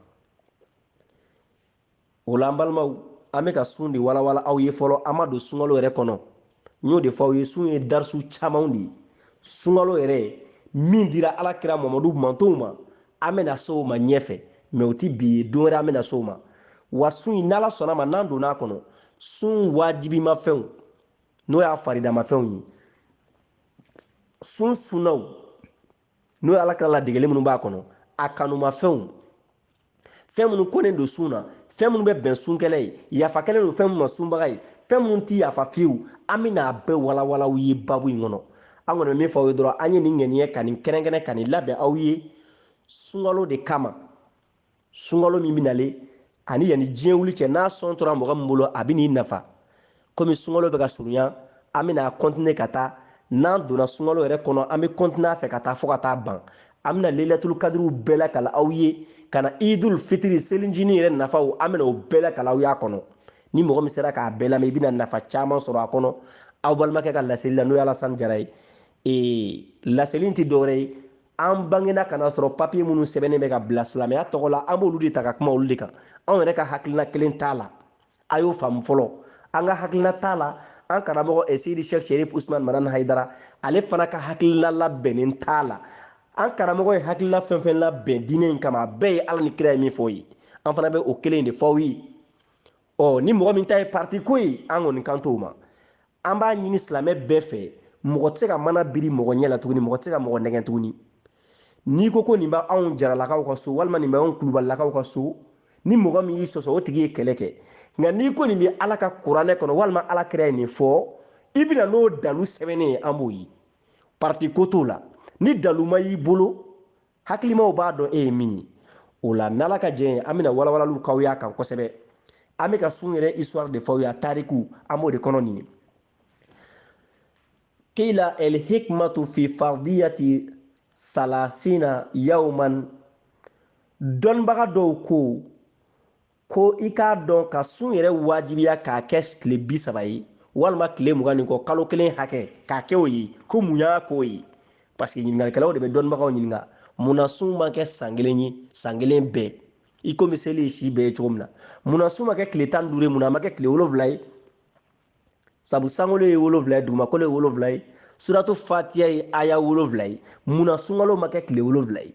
o la an balimaw an bɛ ka sun de walawala aw ye fɔlɔ an ma don sunkalo yɛrɛ kɔnɔ n y'o de fɔ aw ye sun ye darisu camanw de ye sunkalo yɛrɛ min dira ala kira mamadu mantonw ma an bɛna se o ma ɲɛfɛ mɛ o tɛ bi ye don wɛrɛ an bɛna se o ma wa sun in n'ala sɔnna ma n'an donna a kɔnɔ sun waajibimafɛnw n'o y'a faridamafɛnw ye sun sunnaw n'o ye ala kira ladegeli minnu b'a kɔnɔ a kanumafɛnw fɛn minnu kɔnnen don sun na fɛn minnu bɛ bɛn sunkɛlɛ ye yafa kɛlen don fɛn minnu ma sunbaga ye fɛn minnu ti yafa fiyewu an bɛna a bɛɛ walawala aw ye babu in kɔnɔ an kɔni bɛ min fɔ aw ye dɔrɔn an ye nin ŋaniya ka nin kɛrɛnkɛrɛn ka nin labɛn aw ye sunkalo de kama sunkalo min bɛ nalen ani yanni diɲɛ wuli cɛ n'a sɔn tora mɔgɔ min bolo a bɛn'i nafa komi sunkalo bɛ ka surunya an bɛna kɔntine ka taa n'an donna sunkalo yɛrɛ kɔnɔ an bɛ kɔntine a fɛ ka taa fo ka taa ban an bɛna leyilatul kadiriw bɛɛ lakala aw ye ka na idul fitiri selincinin yɛrɛ nafaw an bɛna o bɛɛ lakala aw y'a kɔnɔ ni mɔgɔ min sera k'a bɛɛ lamɛn i bɛna nafa caman sɔrɔ a kɔnɔ aw balimakɛ ka laseli la n'o ye alasani jara ye ee laseli in tɛ dɔwɛrɛ ye an bangena ka na sɔrɔ papiye minnu sɛbɛnnen bɛ ka bila silamɛya tɔgɔ la an b'olu de ta ka kuma olu de kan anw yɛrɛ ka hakilina kelen t'a la a y'o faamu fɔlɔ an ka hakilina t'a la an karamɔgɔ eh, seyidi shek sherif usman madani haidara ale fana ka hakilina labɛnnen t'a la an karamɔgɔ ye hakilina fɛn fɛn labɛn diinɛ in kama a bɛɛ ye ala ni kira ye min fɔ ye an fana bɛ o kelen de fɔ aw ye ɔ ni mɔgɔ min ta ye parti ko ye an kɔni kan t'o ma an b'a ɲini silamɛ bɛɛ fɛ mɔgɔ tɛ se ka mana biri mɔgɔ ɲɛ la tuguni mɔgɔ tɛ se ka mɔgɔ nɛgɛn tuguni n'i ko ko nin bɛ anw jaralakaw ka so walima nin bɛ anw kulubalilakaw ka so ni mɔgɔ min y'i sɔsɔ o tigi ye kɛlɛ kɛ nka n'i ko nin bɛ ala ka kuranɛ kɔnɔ walima ala kira ye nin fɔ i bɛna n'o dalu sɛbɛnnen ye an b'o ye parti ko t'o la ni dalu ma y'i bolo hakilimaw b'a dɔn e ye min ye o la n'ala ka jɛn ye an bɛna walawalaliw k'aw y'a kan kosɛbɛ an bɛ ka sun yɛrɛ histoire de fɔ aw y'a tariku an b'o de kɔnɔ nin ye qila el hikmatu fi fardiyati salasina yawman dɔnnibaga dɔw ko ko i k'a dɔn ka sun yɛrɛ wajibiya k'a kɛ tile bi saba ye walima tile mugan ni kɔ kalo kelen hakɛ k'a kɛ o ye ko mun y'a k'o ye paseke ɲininkalikɛlaw de bɛ dɔnnibagaw ɲininka mun na sun ma kɛ san kelen ye san kelen bɛɛ i komi seli ye si bɛɛ ye cogo min na mun na sun ma kɛ tile tan ni duuru ye mun na a ma kɛ tile wolonwula ye sabu sankolo ye wolonwula ye dugumakolo ye wolonwula ye suratu fatiya ye aya wolonwula ye mun na sunkalo ma kɛ tile wolonwula ye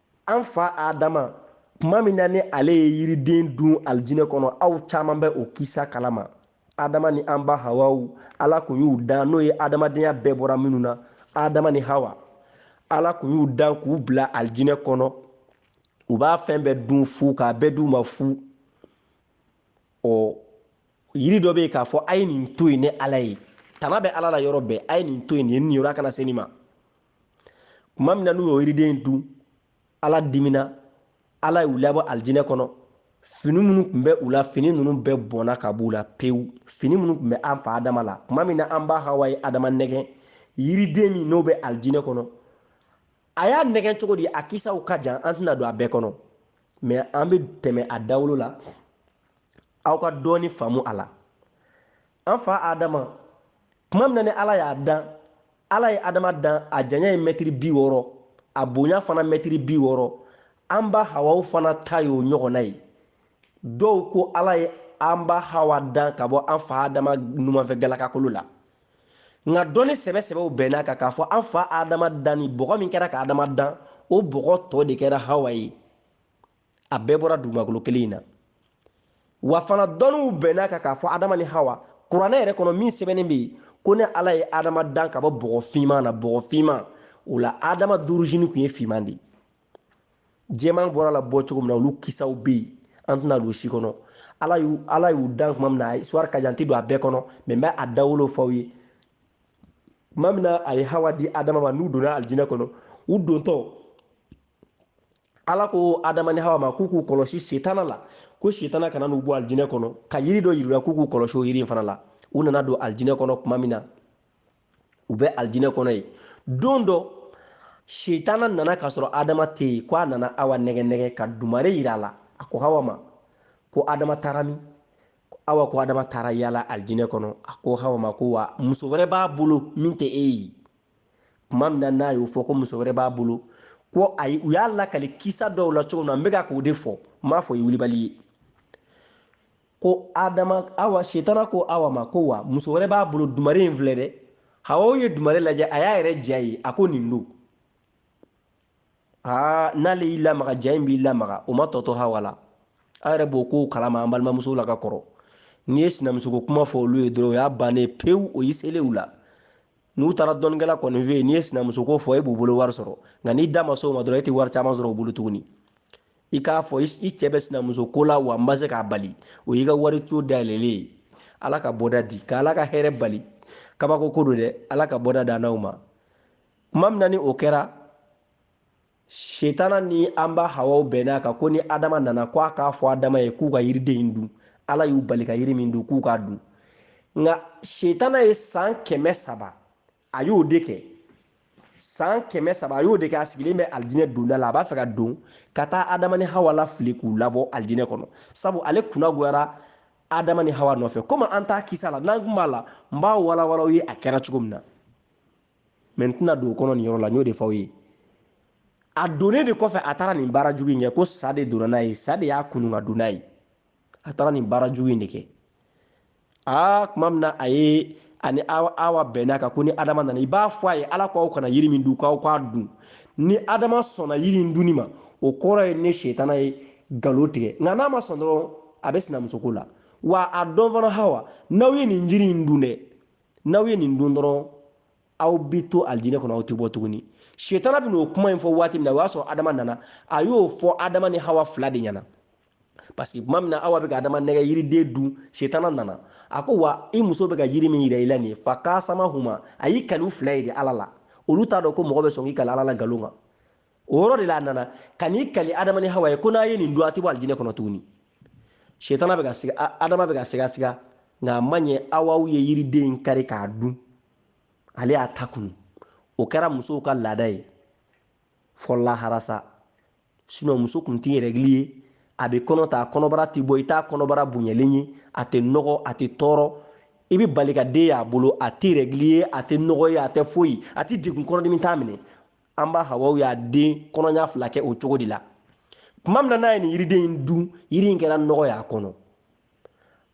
an fa adama tuma min na ni ale ye yiriden dun alijinɛ kɔnɔ aw caman bɛ o kisa kalama adama ni an ba hawa ala kun y'u dan n'o ye adamadenya bɛɛ bɔra minnu na adama ni hawa ala kun y'u dan k'u bila alijinɛ kɔnɔ u b'a fɛn bɛɛ dun fu k'a bɛɛ d'u ma fu ɔ yiri dɔ bɛ yen k'a fɔ a ye nin to yen ni ala ye tana bɛ ala la yɔrɔ bɛɛ a ye nin to yen nin ye nin yɔrɔ kana se nin ma tuma min na n'u y'o yiriden dun ala dimina ala y'u labɔ alijinɛ kɔnɔ fini minnu tun bɛ u la fini ninnu bɛɛ bɔnna ka b'u la pewu fini minnu tun bɛ an fa adama la tuma min na an ba hawa ye adama nɛgɛn yiriden min n'o bɛ alijinɛ kɔnɔ a y'a nɛgɛn cogo di a kisaw ka jan an tɛna don a bɛɛ kɔnɔ mɛ an bɛ tɛmɛ a dawolo la aw ka dɔɔni faamu a la an fa adama tuma min na ni ala y'a dan ala ye adama dan a janya ye mɛtiri bi wɔɔrɔ a bonya fana mɛtiri bi wɔɔrɔ an ba hawa fana ta y'o ɲɔgɔnna ye dɔw ko ala ye an ba hawa dan ka bɔ an fa adama numanfɛ galakakolo la nka dɔnni sɛbɛsɛbɛw bɛnna a kan k'a fɔ an fa adama danni bɔgɔ min kɛra ka adama dan o bɔgɔ tɔ de kɛra hawa ye a bɛɛ bɔra dugumakolo kelen in na wa fana dɔnniw bɛnna a kan k'a fɔ adama ni hawa kuranɛ yɛrɛ kɔnɔ min sɛbɛnnen bɛ yen ko ne ala ye adama dan ka bɔ bɔgɔ finman na bɔgɔ finman o la adama d'origine tun ye finman de ye jɛman bɔra a la bɔ cogo min na olu kisaw bɛ yen an tɛna don si kɔnɔ ala y'u ala y'u dan tuma min na a histoire ka jan tɛ don a bɛɛ kɔnɔ mɛ n bɛ a dawolo fɔ aw ye tuma min na a ye hawa di adama ma n'u donna alijinɛ kɔnɔ u dontɔ ala ko adama ni hawa ma k'u k'u kɔlɔsi setana la ko setana kana n'u bɔ alijinɛ kɔnɔ ka yiri dɔ yira u la k'u k'u kɔlɔsi o yiri in fana la u nana don alijinɛ kɔnɔ tuma min na u bɛ alijinɛ kɔnɔ yen don dɔ setana nana k'a sɔrɔ adama tɛ yen ko a nana hawa nɛgɛn nɛgɛn ka dumare yira a la a ko hawa ma ko adama taara min hawa ko adama taara yala alijinɛ kɔnɔ a ko hawa ma ko wa muso wɛrɛ b'a bolo min tɛ e ye tuma min na n'a y'o fɔ ko muso wɛrɛ b'a bolo ko ayi u y'a lakali kisa dɔw la cogo min na n bɛ kan k'o de fɔ n m'a fɔ i wulibali ye ko adama hawa setana ko hawa ma ko wa muso wɛrɛ b'a bolo dumare in filɛ dɛ hawa ye dumare lajɛ a y'a yɛrɛ ja ye a ko nin don aa n'ale y'i lamaga ja in b'i lamaga o ma tɔ to hawa la aw yɛrɛ b'o kow kalama an balimamusow la ka kɔrɔ n'i ye sinamusoko kuma fɔ olu ye dɔrɔn o y'a bannen pewu o y'i selen u la n'u taara dɔnnikɛla kɔni fɛ yen n'i ye sinamuso ko fɔ e b'u bolo wari sɔrɔ nka n'i da ma s'o ma dɔrɔn e tɛ wari caman sɔrɔ u bolo tuguni i k'a fɔ i cɛ bɛ sinamuso ko la wa n bɛ se k'a bali o y'i ka wari co dayɛlɛlen ye ala ka bɔda di ka ala ka hɛrɛ bali kabako don dɛ ala ka bɔda d'an n'aw ma tuma min na ni o kɛra setana ni an ba hawa bɛnna a kan ko ni adama nana ko a k'a fɔ adama ye k'u ka yiriden in dun ala y'u bali ka yiri min dun k'u k'a dun nka setana ye san kɛmɛ saba a y'o de kɛ san kɛmɛ saba a y'o de kɛ a sigilen bɛ alijinɛ donda la a b'a fɛ ka don ka taa adama ni hawa la fili k'u labɔ alijinɛ kɔnɔ sabu ale kunna goyara adama ni hawa nɔfɛ komi an t'a kisa la n'an kun b'a la n b'a walawala aw ye a kɛra cogo min na mɛ n tɛna don o kɔnɔ nin yɔrɔ la n y'o de fɔ aw ye a donnen de kɔfɛ a taara nin baara jugu in kɛ ko sa de donna n'a ye sa de y'a kunun ka don n'a ye a taara nin baara jugu in de kɛ aa tuma min na a ye ani awa bɛnn'a kan ko ni adama nana i b'a fɔ a ye ala ko aw kana yiri min dun k'aw k'a dun ni adama sɔnna yiri in dunni ma o kɔrɔ ye ne setana ye nkalon tigɛ nka n'a ma sɔn dɔrɔn a bɛ sinamusoko la wa a dɔn fana hawa n'aw ye nin jiri in dun dɛ n'aw ye nin dun dɔrɔn aw bi to alijinɛ kɔnɔ aw tɛ bɔ tuguni setana bɛ n'o kuma in fɔ waati min na o y'a sɔrɔ adama nana a y'o fɔ adama ni hawa fila de ɲɛna parce que tuma min na awa bɛ ka adama nɛgɛ yiriden dun setana nana a ko wa i muso bɛ ka yiri min yira i la nin ye fa kasamahuma a y'i kali u fila ye de ala la olu t'a dɔn ko mɔgɔ bɛ sɔn k'i kali ala la nkalon kan o yɔrɔ de la a nana ka n'i kali adama ni hawa ye ko n'a ye nin dun a tɛ bɔ alijinɛ kɔnɔ tuguni setana bɛ ka siga adama bɛ ka siga siga nka a ma ɲɛ awa ye yiriden in kari k'a dun ale y'a ta kunu o kɛra musow ka laada ye fɔ lahara sa sinɔn muso tun tɛ rɛgili ye a bɛ kɔnɔ ta a kɔnɔbara tɛ bɔ i t'a kɔnɔbara bonyalen ye a tɛ nɔgɔ a tɛ tɔɔrɔ i bɛ bali ka den y'a bolo a tɛ rɛgili ye a tɛ nɔgɔ ye a tɛ foyi a tɛ degun kɔnɔdimi t'a minɛ an ba hawa y'a den kɔnɔɲa fila kɛ o cogo de la tuma min na n'a ye nin yiriden in dun yiri in kɛra nɔgɔ y'a kɔnɔ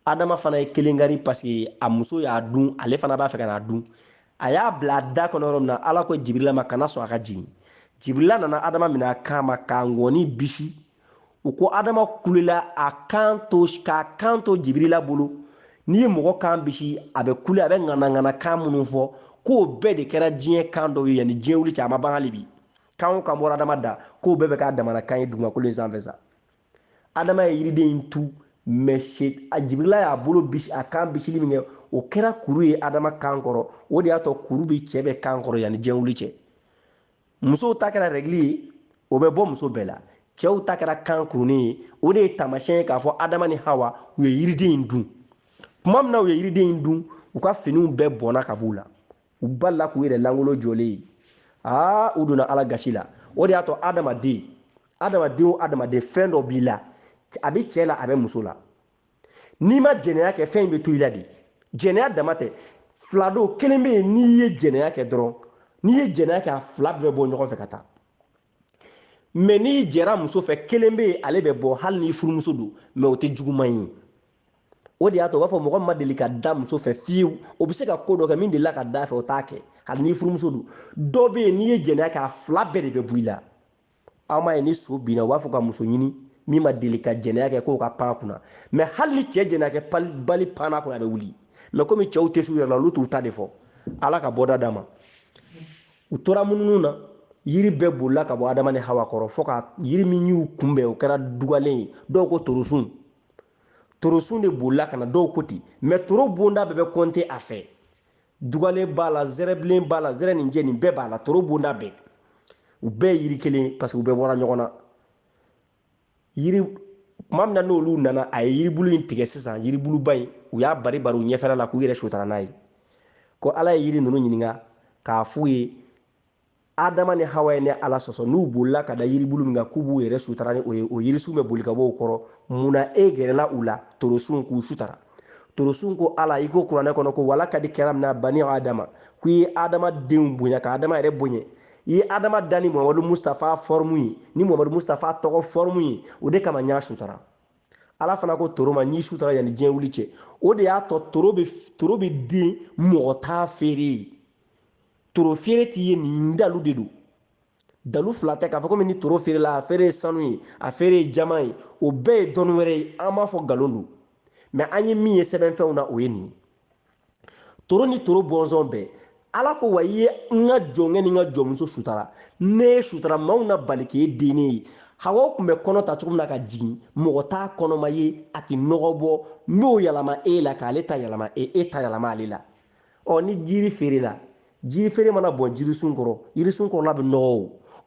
adama fana ye kelen kari paseke a muso y'a dun ale fana b'a fɛ ka n'a dun a y'a bila a da kɔnɔ yɔrɔ min na ala ko jibirila ma kana sɔn a ka jigin jibirila nana adama minɛ a kan ma k'a ŋɔni bisi u ko adama kulela a kan to k'a kan to jibirila bolo n'i ye mɔgɔ kan bisi a bɛ kule a bɛ ŋanaŋana kan minnu fɔ k'o bɛɛ de kɛra diɲɛ kan dɔw ye yanni diɲɛ wuli cɛ a ma ban hali bi kan o kan bɔra adama da k'o bɛɛ bɛ k'a damana kan ye dugumakolo in sanfɛ sa adama ye yiriden in tu mɛ a jibirila y'a bolo bisi a kan bisili min kɛ o kɛra kuru ye adama kan kɔrɔ o de y'a to kuru bɛ cɛ bɛɛ kan kɔrɔ yanni diɲɛ wuli cɛ musow ta kɛra rɛgili ye o bɛ bɔ muso bɛɛ la cɛw ta kɛra kan kurunin ye o de ye taamasiyɛn ye k'a fɔ adama ni hawa u ye yiriden in dun tuma min na u ye yiriden in dun u ka finiw bɛɛ bɔnna ka b'u la u balila k'u yɛrɛ langolo jɔlen ye aa u donna ala gasi la o de y'a to adamaden adamaden o adamaden fɛn dɔ b'i la a bɛ cɛ la a bɛ muso la n'i ma jɛnɛya kɛ fɛn in bɛ to i la de jɛnɛya dama tɛ fila don kelen bɛ yen n'i ye jɛnɛya kɛ dɔrɔn n'i ye jɛnɛya kɛ a fila bɛɛ bɔ ɲɔgɔn fɛ ka taa mɛ n'i jɛra muso fɛ kelen bɛ yen ale bɛ bɔ hali n'i furumuso don mɛ o tɛ juguman ye o de y'a to u b'a fɔ mɔgɔ ma deli ka da muso fɛ fiyewu o bɛ se ka ko dɔ kɛ min delila ka da fɛ o t'a kɛ hali n'i furumuso don dɔ bɛ yen n'i ye jɛnɛya kɛ a fila bɛɛ de bɛ bɔ i la aw m'a ye ni so binna u b'a fɔ ka muso ɲini min ma deli ka jɛnɛya kɛ k'o ka pan kunna mɛ hali ni cɛ jɛnɛya kɛ bali panna kunna a bɛ wuli mɛ komi cɛw tɛ s'u yɛrɛ la olu t'u ta de fɔ ala ka bɔda d'a ma u tora mununu na yiri bɛɛ bolila ka bɔ adama ni hawa kɔrɔ fo ka yiri min y'u kunbɛn o kɛra dugalen ye dɔw ko torosun torosun de bolila ka na dɔw ko ten mɛ toro bonda bɛɛ bɛ kɔnte a fɛ dugalen b'a la zɛrɛbilen b'a la zɛrɛninjɛ nin bɛɛ b'a la toro bonda bɛɛ u bɛɛ yiri kelen parce que u bɛɛ bɔra ɲɔgɔn na yiri kuma min na n'olu nana a ye yiribulu in tigɛ sisan yiribuluba in u y'a bari bari u ɲɛfɛla la k'u yɛrɛ sutara n'a ye ko ala ye yiri ninnu ɲininka k'a f'u ye Adama ni Hawa ye ne Ala sɔsɔ, n'u bolila ka da yiribulu min kan k'u b'u yɛrɛ sutara ni o ye, o yirisun bɛ boli ka bɔ u kɔrɔ, mun na e gɛrɛla u la torosun k'u sutara? Torosun ko Ala, i ko kuranɛ kɔnɔ ko, Walakadi karamna bani Adama, ko i ye Adama denw bonya, ka Adama yɛrɛ bonya. I ye Adama da ni Muhamadu Mustafa fɔrmu ye, ni Muhamadu Mustafa tɔgɔ fɔrmu ye, o de kama n y'a sutara. Ala fana ko toro ma, n y'i sutara yanni diɲɛ wuli cɛ. O de y'a to toro bɛ toro bɛ den mɔgɔ t'a feere. toro feere tɛ ye nin dalu de don dalu fila tɛ k'a fɔ komi ni toro feerela a feere ye sanu ye a feere ye jama ye o bɛɛ ye dɔnni wɛrɛ ye an m'a fɔ nkalon don mɛ an ye min ye sɛbɛnfɛnw na o ye nin ye toro ni toro bɔnsɔn bɛɛ ala ko wa i ye n ka jɔnkɛ ni n ka jɔnmuso sutara ne y'i sutara maaw na bali k'e dennen ye hawa tun bɛ kɔnɔ ta cogo min na ka jigin mɔgɔ t'a kɔnɔma ye a tɛ nɔgɔ bɔ n'o yɛlɛma e la k'ale ta yɛlɛma e e ta yɛlɛma ale la ɔ ni jiri feerela jiri feere mana bɔn jirisun kɔrɔ yirisun kɔrɔla bɛ nɔgɔ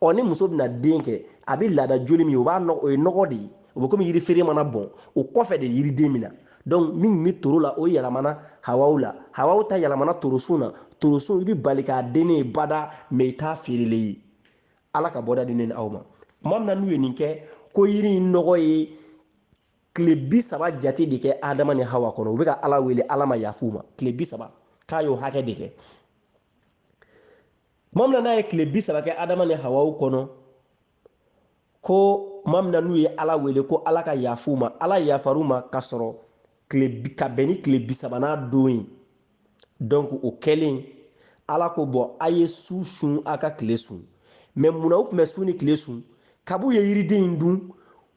o ɔ ni muso bɛna den kɛ a bɛ laada joli min o b'a nɔgɔ o ye nɔgɔ de ye o bɛ komi yiri feere mana bɔn o kɔfɛ de yiriden bɛ na donc min bɛ toro la o yɛlɛmana hawa la hawa ta yɛlɛmana torosun na torosun i bɛ bali k'a dennen ye bada mɛ i t'a feerelen ye ala ka bɔda di ne ni aw ma tuma min na n'u ye nin kɛ ko yiri in nɔgɔ ye tile bi saba jate de kɛ adama ni hawa kɔnɔ u bɛ ka ala wele ala ma yaf'u ma tile bi saba k'a y'o hakɛ de kɛ tuma min na n'a ye tile bi saba kɛ adama ni hawa kɔnɔ ko tuma min na n'u ye ala wele ko ala ka yaf'u ma ala yafar'u ma ka sɔrɔ ka bɛn ni tile bi sabanan don ye donc o kɛlen ala ko bon a ye su sun a ka tile sun mɛ munna u tun bɛ su ni tile sun kab'u ye yiriden in dun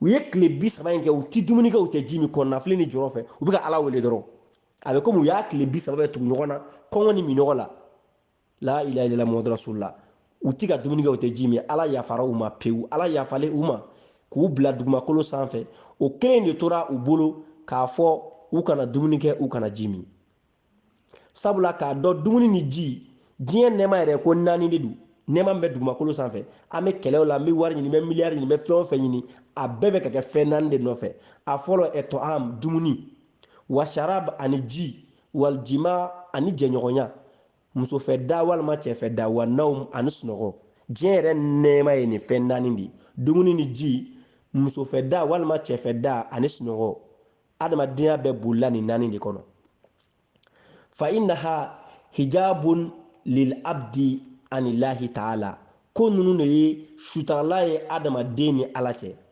u ye tile bi saba in kɛ u tɛ dumuni kɛ u tɛ ji min kɔnɔnafili ni jɔrɔ fɛ u bɛ ka ala wele dɔrɔn a bɛ komi u y'a tile bi saba bɛɛ tugu ɲɔgɔn na kɔngɔ ni minɔgɔ la la ilaha illallah muhammadu rasulullah u tɛ ka dumuni kɛ u tɛ ji min ala yafara u ma pewu ala yafalen u ma k'u bila dugumakolo sanfɛ o kelen de tora u bolo k'a fɔ u kana dumuni kɛ u kana ji min sabula k'a dɔn dumuni ni ji diɲɛ nɛɛma yɛrɛ ko naani de don nɛɛma min bɛ dugumakolo sanfɛ an bɛ kɛlɛw la an bɛ wari ɲini an bɛ miliyari ɲini an bɛ fɛn o fɛn ɲini a bɛɛ bɛ ka kɛ fɛn naani de nɔfɛ a fɔlɔ atta'am dumuni wa sharab ani ji wal jima ani jɛɲɔgɔnya musofɛ da walima cɛfɛ da wa nawm ani sunɔgɔ diɲɛ yɛrɛ nɛɛma ye nin fɛn naani de ye dumuni ni ji musofɛ da walima cɛfɛ da ani sunɔgɔ adamadenya bɛɛ bolila nin naani de kɔnɔ fa innaha hijabun lil abdi anillahi taala ko ninnu de ye sutaralan ye adamaden ni ala cɛ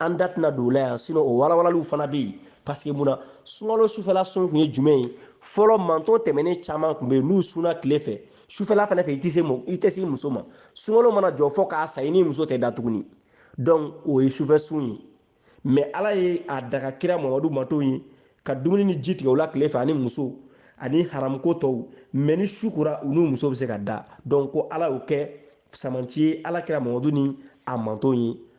an da tɛna don o la yan sinɔn o walawalaliw fana bɛ yen paseke mun na sunkalo sufɛla sun tun ye jumɛn ye fɔlɔ manton tɛmɛnen caman tun bɛ yen n'u sunna tile fɛ sufɛla fana fɛ i tɛ se i tɛ se muso ma sunkalo mana jɔ fɔ k'a sa i ni muso tɛ da tuguni dɔnku o ye sufɛ sun ye mɛ ala ye a daga kira mamadu manton ye ka dumuni ni ji tigɛ o la tile fɛ ani muso ani haramuko tɔw mɛ ni su kora u n'u muso bɛ se ka da dɔnku ko ala y'o kɛ samanci ye ala kira mamadu ni a manton ye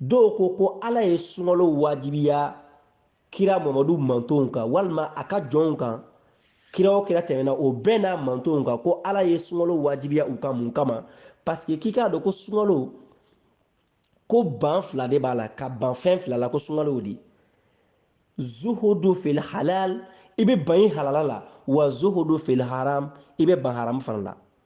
dɔw ko ko ala ye sunkalo wajibiya kira mamadu mantonw kan walima a ka jɔnw kan kira o kira tɛmɛna o bɛɛ n'a mantonw kan ko ala ye sunkalo wajibiya u kan mun kama paseke k'i k'a dɔn ko sunkalo ko ban fila de b'a la ka ban fɛn fila la ko sunkalo o de zuhudu fil halal i bɛ ban i halala la wa zuhudu fil haram i bɛ ban haramu fana la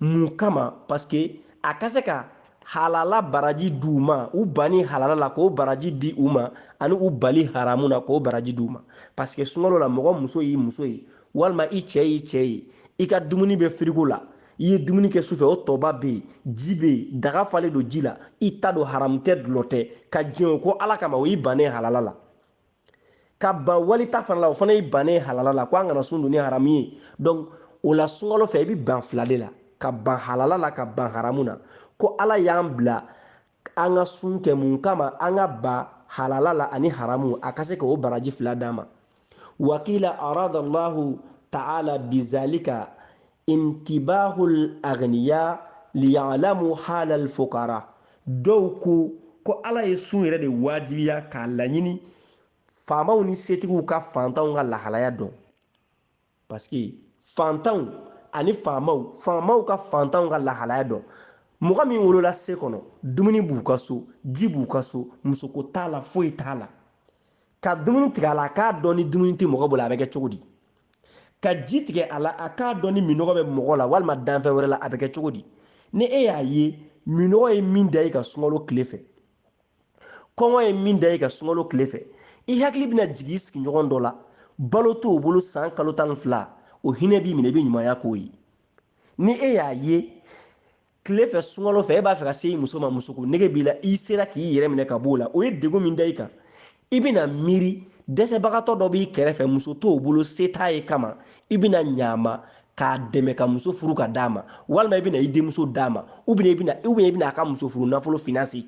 mun kama paske a ka se ka halala baraji di u ma u banni halala la k'o baraji di u ma ani u bali haramu na k'o baraji di u ma paske sunkalo la mɔgɔ muso y'i muso ye walima i cɛ y'i cɛ ye i ka dumuni bɛ firigo la i ye dumuni kɛ sufɛ o tɔba bɛ yen ji bɛ yen daga falen don ji la i ta don haramu tɛ dulɔ tɛ ka jɛn o kɔ ala kama o y'i bannen halala la ka ban wali ta fana la o fana y'i bannen halala la ko an kana sun don ni haramu ye donc o la sunkalo fɛ i bɛ ban fila de la ka ban halala la ka ban haramu na ko ala y'an bila an ka sun kɛ mun kama an ka ban halala la ani haramu a ka se ka o baraji fila d'an ma wa kila arada allahu ta'ala bizalika intibahul agniya liya'lamu halal fukara dɔw ko ko ala ye sun yɛrɛ de wajibiya k'a laɲini faamaw ni setigiw ka fantanw ka lahalaya dɔn paske fantanw ani faamaw faamaw ka fantanw ka lahalaya dɔn mɔgɔ min wolola se kɔnɔ dumuni b'u ka so ji b'u ka so musoko t'a la foyi t'a la ka dumuni tigɛ a la k'a dɔn ni dumuni tɛ mɔgɔ bolo a bɛ kɛ cogo di ka ji tigɛ a la a k'a dɔn ni minɔgɔ bɛ mɔgɔ la walima danfɛn wɛrɛ la a bɛ kɛ cogo di ni e y'a ye minɔgɔ ye min da i ka sunkalo tile fɛ kɔngɔ ye min da i ka sunkalo tile fɛ i hakili bɛna jigin i sigiɲɔgɔn dɔ la balo t'o bolo san kalo tan ni fila o hinɛ b'i minɛ i bɛ ɲumanya k'o ye ni e y'a ye tile fɛ sunkalo fɛ e b'a fɛ ka se i muso ma musoko nege b'i la i sera k'i yɛrɛ minɛ ka b'o la o ye degun min da i kan i bɛna miiri dɛsɛbagatɔ dɔ b'i kɛrɛfɛ muso t'o bolo se t'a ye kama i bɛna ɲaama k'a dɛmɛ ka muso furu ka d'a ma walima i bɛna i denmuso d'a ma u bɛna i bɛna u bɛna i bɛna a ka muso furu nafolo finanse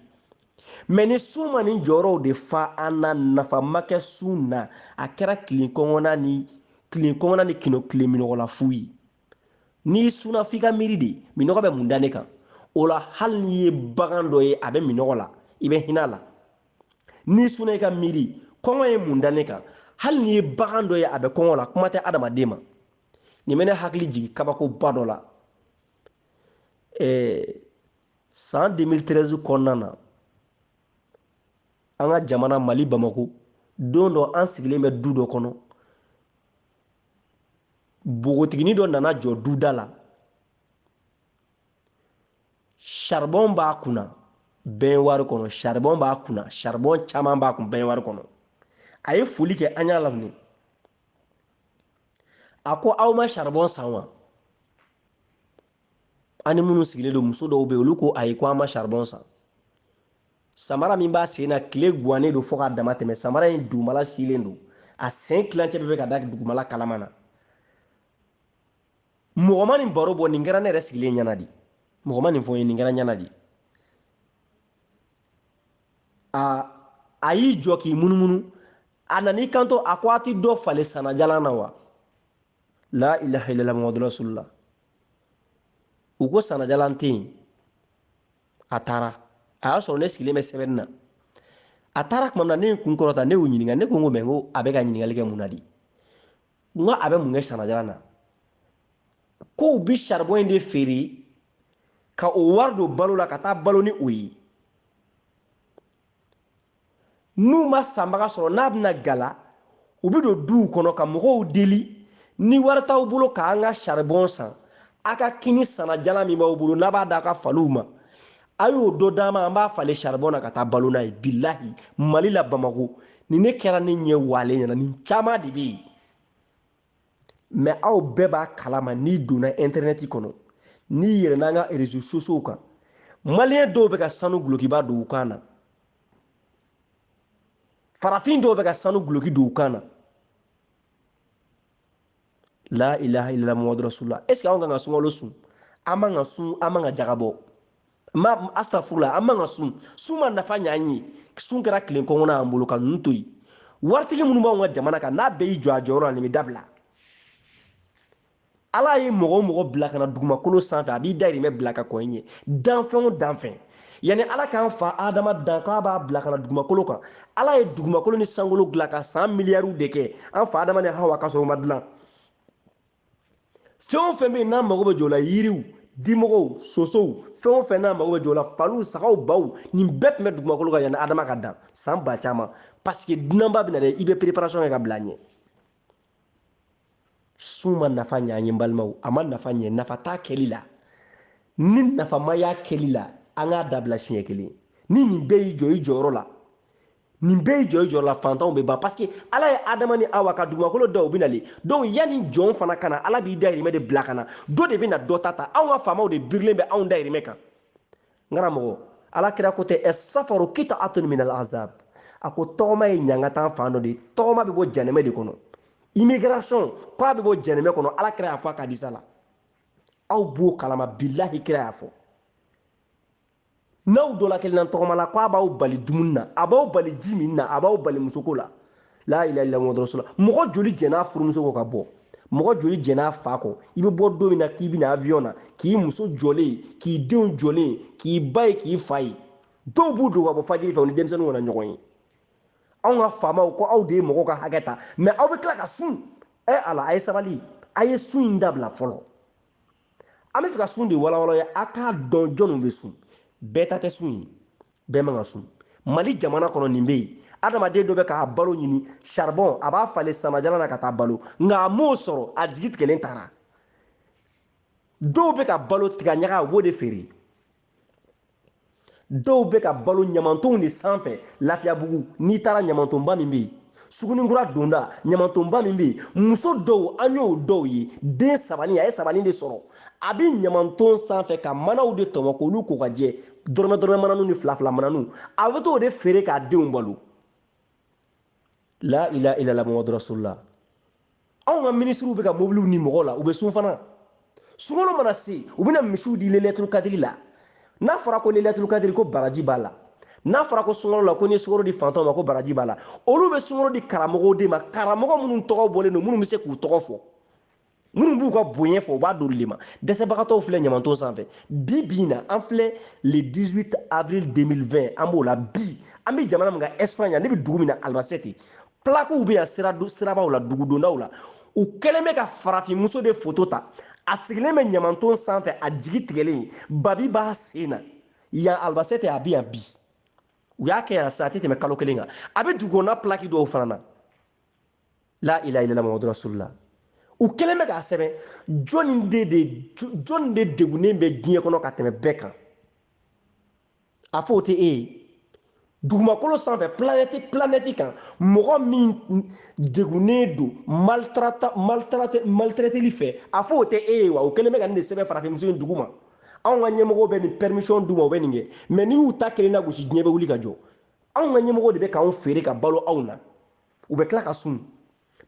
mɛ ni sun ma nin jɔyɔrɔw de fa an na nafa ma kɛ sun na a kɛra tilen kɔngɔ na ni kino tilen minɔgɔ la fu ye n'i sunna f'i ka miiri de minɔgɔ bɛ mun da ne kan o la hali n'i ye bagan dɔ ye a bɛ minɔgɔ la i bɛ hinɛ a la n'i sunna i ka miiri kɔngɔ ye mun da ne kan hali n'i ye bagan dɔ ye a bɛ kɔngɔ la kuma tɛ adamaden ma nin bɛ ne hakili jigin kabakoba dɔ la ɛɛ san 2013 kɔnɔna na an ka jamana mali bamako don dɔ an sigilen bɛ du dɔ kɔnɔ npogotiginin dɔ nana jɔ duda la saribɔn b'a kunna bɛnwari kɔnɔ saribɔn b'a kunna saribɔn caman b'a kun bɛnwari kɔnɔ a ye foli kɛ an y'a laminɛ a ko aw ma saribɔn san wa an ni minnu sigilen don muso dɔw bɛ yen olu ko ayi ko an ma saribɔn san samara min b'a sen na tile guwannen don fo k'a dama tɛmɛ samara in dugumala silen don a sen tilancɛ bɛ ka da dugumala kalama na mɔgɔ ma nin baro bɔ nin kɛra ne yɛrɛ sigilen ɲɛna de mɔgɔ ma nin fɔ n ye nin kɛra ɲɛna de aa a y'i jɔ k'i munumunu a nan'i kanto a ko a ti dɔ falen sanajalan na wa la ilaha illallah muhammadu rasulullah u ko sanajalan tɛ yen a taara a y'a sɔrɔ ne sigilen bɛ sɛbɛnni na a taara tuma min na ne ye kun kɔrɔta ne y'u ɲininka ne ko n ko mɛ n ko a bɛ ka ɲininkali kɛ mun na de n ko a bɛ mun kɛ sanajalan na ko u bɛ saribɔn in de feere ka o wari don balo la ka taa balo ni o ye n'u ma sanbaga sɔrɔ n'a bɛna gala u bɛ don duw kɔnɔ ka mɔgɔw deli ni wari t'aw bolo k'an ka saribɔn san a ka kini sanajalan min b'aw bolo n'a b'a da ka faliw ma a y'o dɔ d'an ma an b'a falen saribɔn na ka taa balo n'a ye bilahi mali la bamako ni ne kɛra ne ɲɛ wale ɲɛna nin caman de bɛ yen mɛ aw bɛɛ b'a kalama n'i donna intɛrɛnɛti kɔnɔ n'i yɛlɛnna an ka réseaux sociaux kan maliyɛn dɔw bɛ ka sanu gulokiba don u kan na farafin dɔw bɛ ka sanu guloki don u kan na la ilaha illallah muhammadu rasulullah est ce que anw kan ka sunkalo sun an man ka sun an man ka jaka bɔ ma astafurula an man ka sun sun ma nafa ɲɛ an ye sun kɛra tile kɔngɔna y'an bolo ka ninnu to yen waritigi minnu b'anw ka jamana kan n'a bɛɛ y'i jɔ a jɔyɔrɔ la nin bɛ dabila ala ye mɔgɔ o mɔgɔ bila ka na dugumakolo sanfɛ a b'i dayirimɛ bila ka kɔn i ɲɛ danfɛn o danfɛn yanni ala k'an fa adama dan k'a b'a bila ka na dugumakolo kan ala ye dugumakolo ni sankolo dilan ka san miliyariw de kɛ an fa adama ni hawa ka sɔrɔ u ma dilan fɛn o fɛn bɛ yen n'a mago bɛ jɔ o la yiriw dimɔgɔw sosow fɛn o fɛn n'a mago bɛ jɔ o la faliw sagaw baw nin bɛɛ tun bɛ dugumakolo kan yanni adama ka dan san ba caman paseke dunanba bɛ na dɛ i bɛ pereparasɔn kɛ ka bila a ɲɛ sun ma nafa ɲɛ an ye balimaw a ma nafa ɲɛ nafa t'a kɛli la ni nafa ma y'a kɛli la an k'a dabila siɲɛ kelen ni nin bɛɛ y'i jɔ i jɔyɔrɔ la nin bɛɛ y'i jɔ i jɔyɔrɔ la fantanw bɛ ban parce que ala ye adama ni awa ka dugumakolo da o bɛ nali donc yanni jɔn fana ka na ala b'i dayirimɛ de bila ka na dɔ de bɛna dɔ ta ta anw ka faamaw de birilen bɛ anw dayirimɛ kan n karamɔgɔ ala kira ko tɛ safaru kita atun minal azab a ko tɔgɔma ye ɲangata fan dɔ de tɔgɔma bɛ bɔ janɛmɛ de kɔnɔ immigration ko a bɛ bɔ janɛmɛ kɔnɔ ala kira y'a fɔ a ka hadisa la aw b'o kalama bilahi kira y'a fɔ n'aw dɔ la kelenna tɔgɔma la ko a b'aw bali dumuni na a b'aw bali ji min na a b'aw bali musoko la la ilaha illallah muhamadu rasulullah mɔgɔ joli jɛn'a furumuso kɔ ka bɔ mɔgɔ joli jɛn'a fa kɔ i bɛ bɔ don min na k'i bɛna avion na k'i muso jɔlen k'i denw jɔlen k'i ba ye k'i fa ye dɔw b'u dogo ka bɔ fajiri fɛ u ni denmisɛnninw kana ɲɔgɔn ye anw ka faamaw ko aw de ye mɔgɔw ka hakɛ ta mɛ aw bɛ tila ka sun ɛ ala a ye sabali a ye sun in dabila fɔlɔ an bɛ fɛ ka sun de walawala a ye a k'a dɔn jɔnw bɛ sun bɛɛ ta tɛ sun ye bɛɛ man ka sun mali jamana kɔnɔ nin bɛ yen adamaden dɔ bɛ k'a balo ɲini saribɔn a b'a falen sanajalan na ka taa balo nka a m'o sɔrɔ a jigi tigɛlen taara dɔw bɛ ka balo tigaɲaga a b'o de feere dɔw bɛ ka balo ɲamantonw de sanfɛ lafiyabugu n'i taara ɲamantonba min bɛ yen sugunikura donda ɲamantonba min bɛ yen muso dɔw an y'o dɔw ye den sabani a ye sabani de sɔrɔ a bɛ ɲamanton sanfɛ ka manaw de tɔmɔ k'olu ko ka jɛ dɔrɔmɛ dɔrɔmɛ mananu ni fila fila mananu a bɛ t'o de feere k'a denw balo la ilaha illallah muhamadu rasulullah anw ka minisiriw bɛ ka mobiliw ni mɔgɔw la u bɛ sun fana sunkalo mana se u bɛna misiw di lelɛturu kadiri la n'a fɔra ko lelɛturu kadiri ko baraji b'a la n'a fɔra ko sunkalo la ko n'i ye sukaro di fantanw ma ko baraji b'a la olu bɛ sukaro di karamɔgɔw de ma karamɔgɔ minnu tɔgɔ bɔlen don minnu bɛ se k'u tɔgɔ fɔ minnu b'u ka bonya fɔ u b'a d'olu de ma dɛsɛbagatɔw filɛ ɲamanton sanfɛ bi bi in na an filɛ le 18 avril 2020 an b'o la bi an bɛ jamana min kan espagne ne bɛ dugu min na albacete plakiw bɛ yan sirabaw la dugudondaw la u kɛlen bɛ ka farafinmuso de foto ta a sigilen bɛ ɲamanton sanfɛ a jigi tigɛlen babi b'a sen na yan albacete a bɛ yan bi u y'a kɛ yan sa a tɛ tɛmɛ kalo kelen kan a bɛ dugukɔnɔna plaki dɔw fana na la ilaha illallah muhammadu rasulullah u kɛlen bɛ k'a sɛbɛn jɔni de degunnen bɛ diɲɛ kɔnɔ ka tɛmɛ bɛɛ kan a fɔ o tɛ e ye dugumakolo sanfɛ planɛti planɛti kan mɔgɔ min degunnen don maltraiteli fɛ a fɔ o tɛ e ye wa o kɛlen bɛ ka nin de sɛbɛn farafinmuso in duguma anw ka ɲɛmɔgɔw bɛ nin permission d'u ma u bɛ nin kɛ mɛ n'i y'u ta kelen nagosi diɲɛ bɛ wuli ka jɔ anw ka ɲɛmɔgɔw de bɛ k'anw feere ka balo anw na u bɛ tila ka sun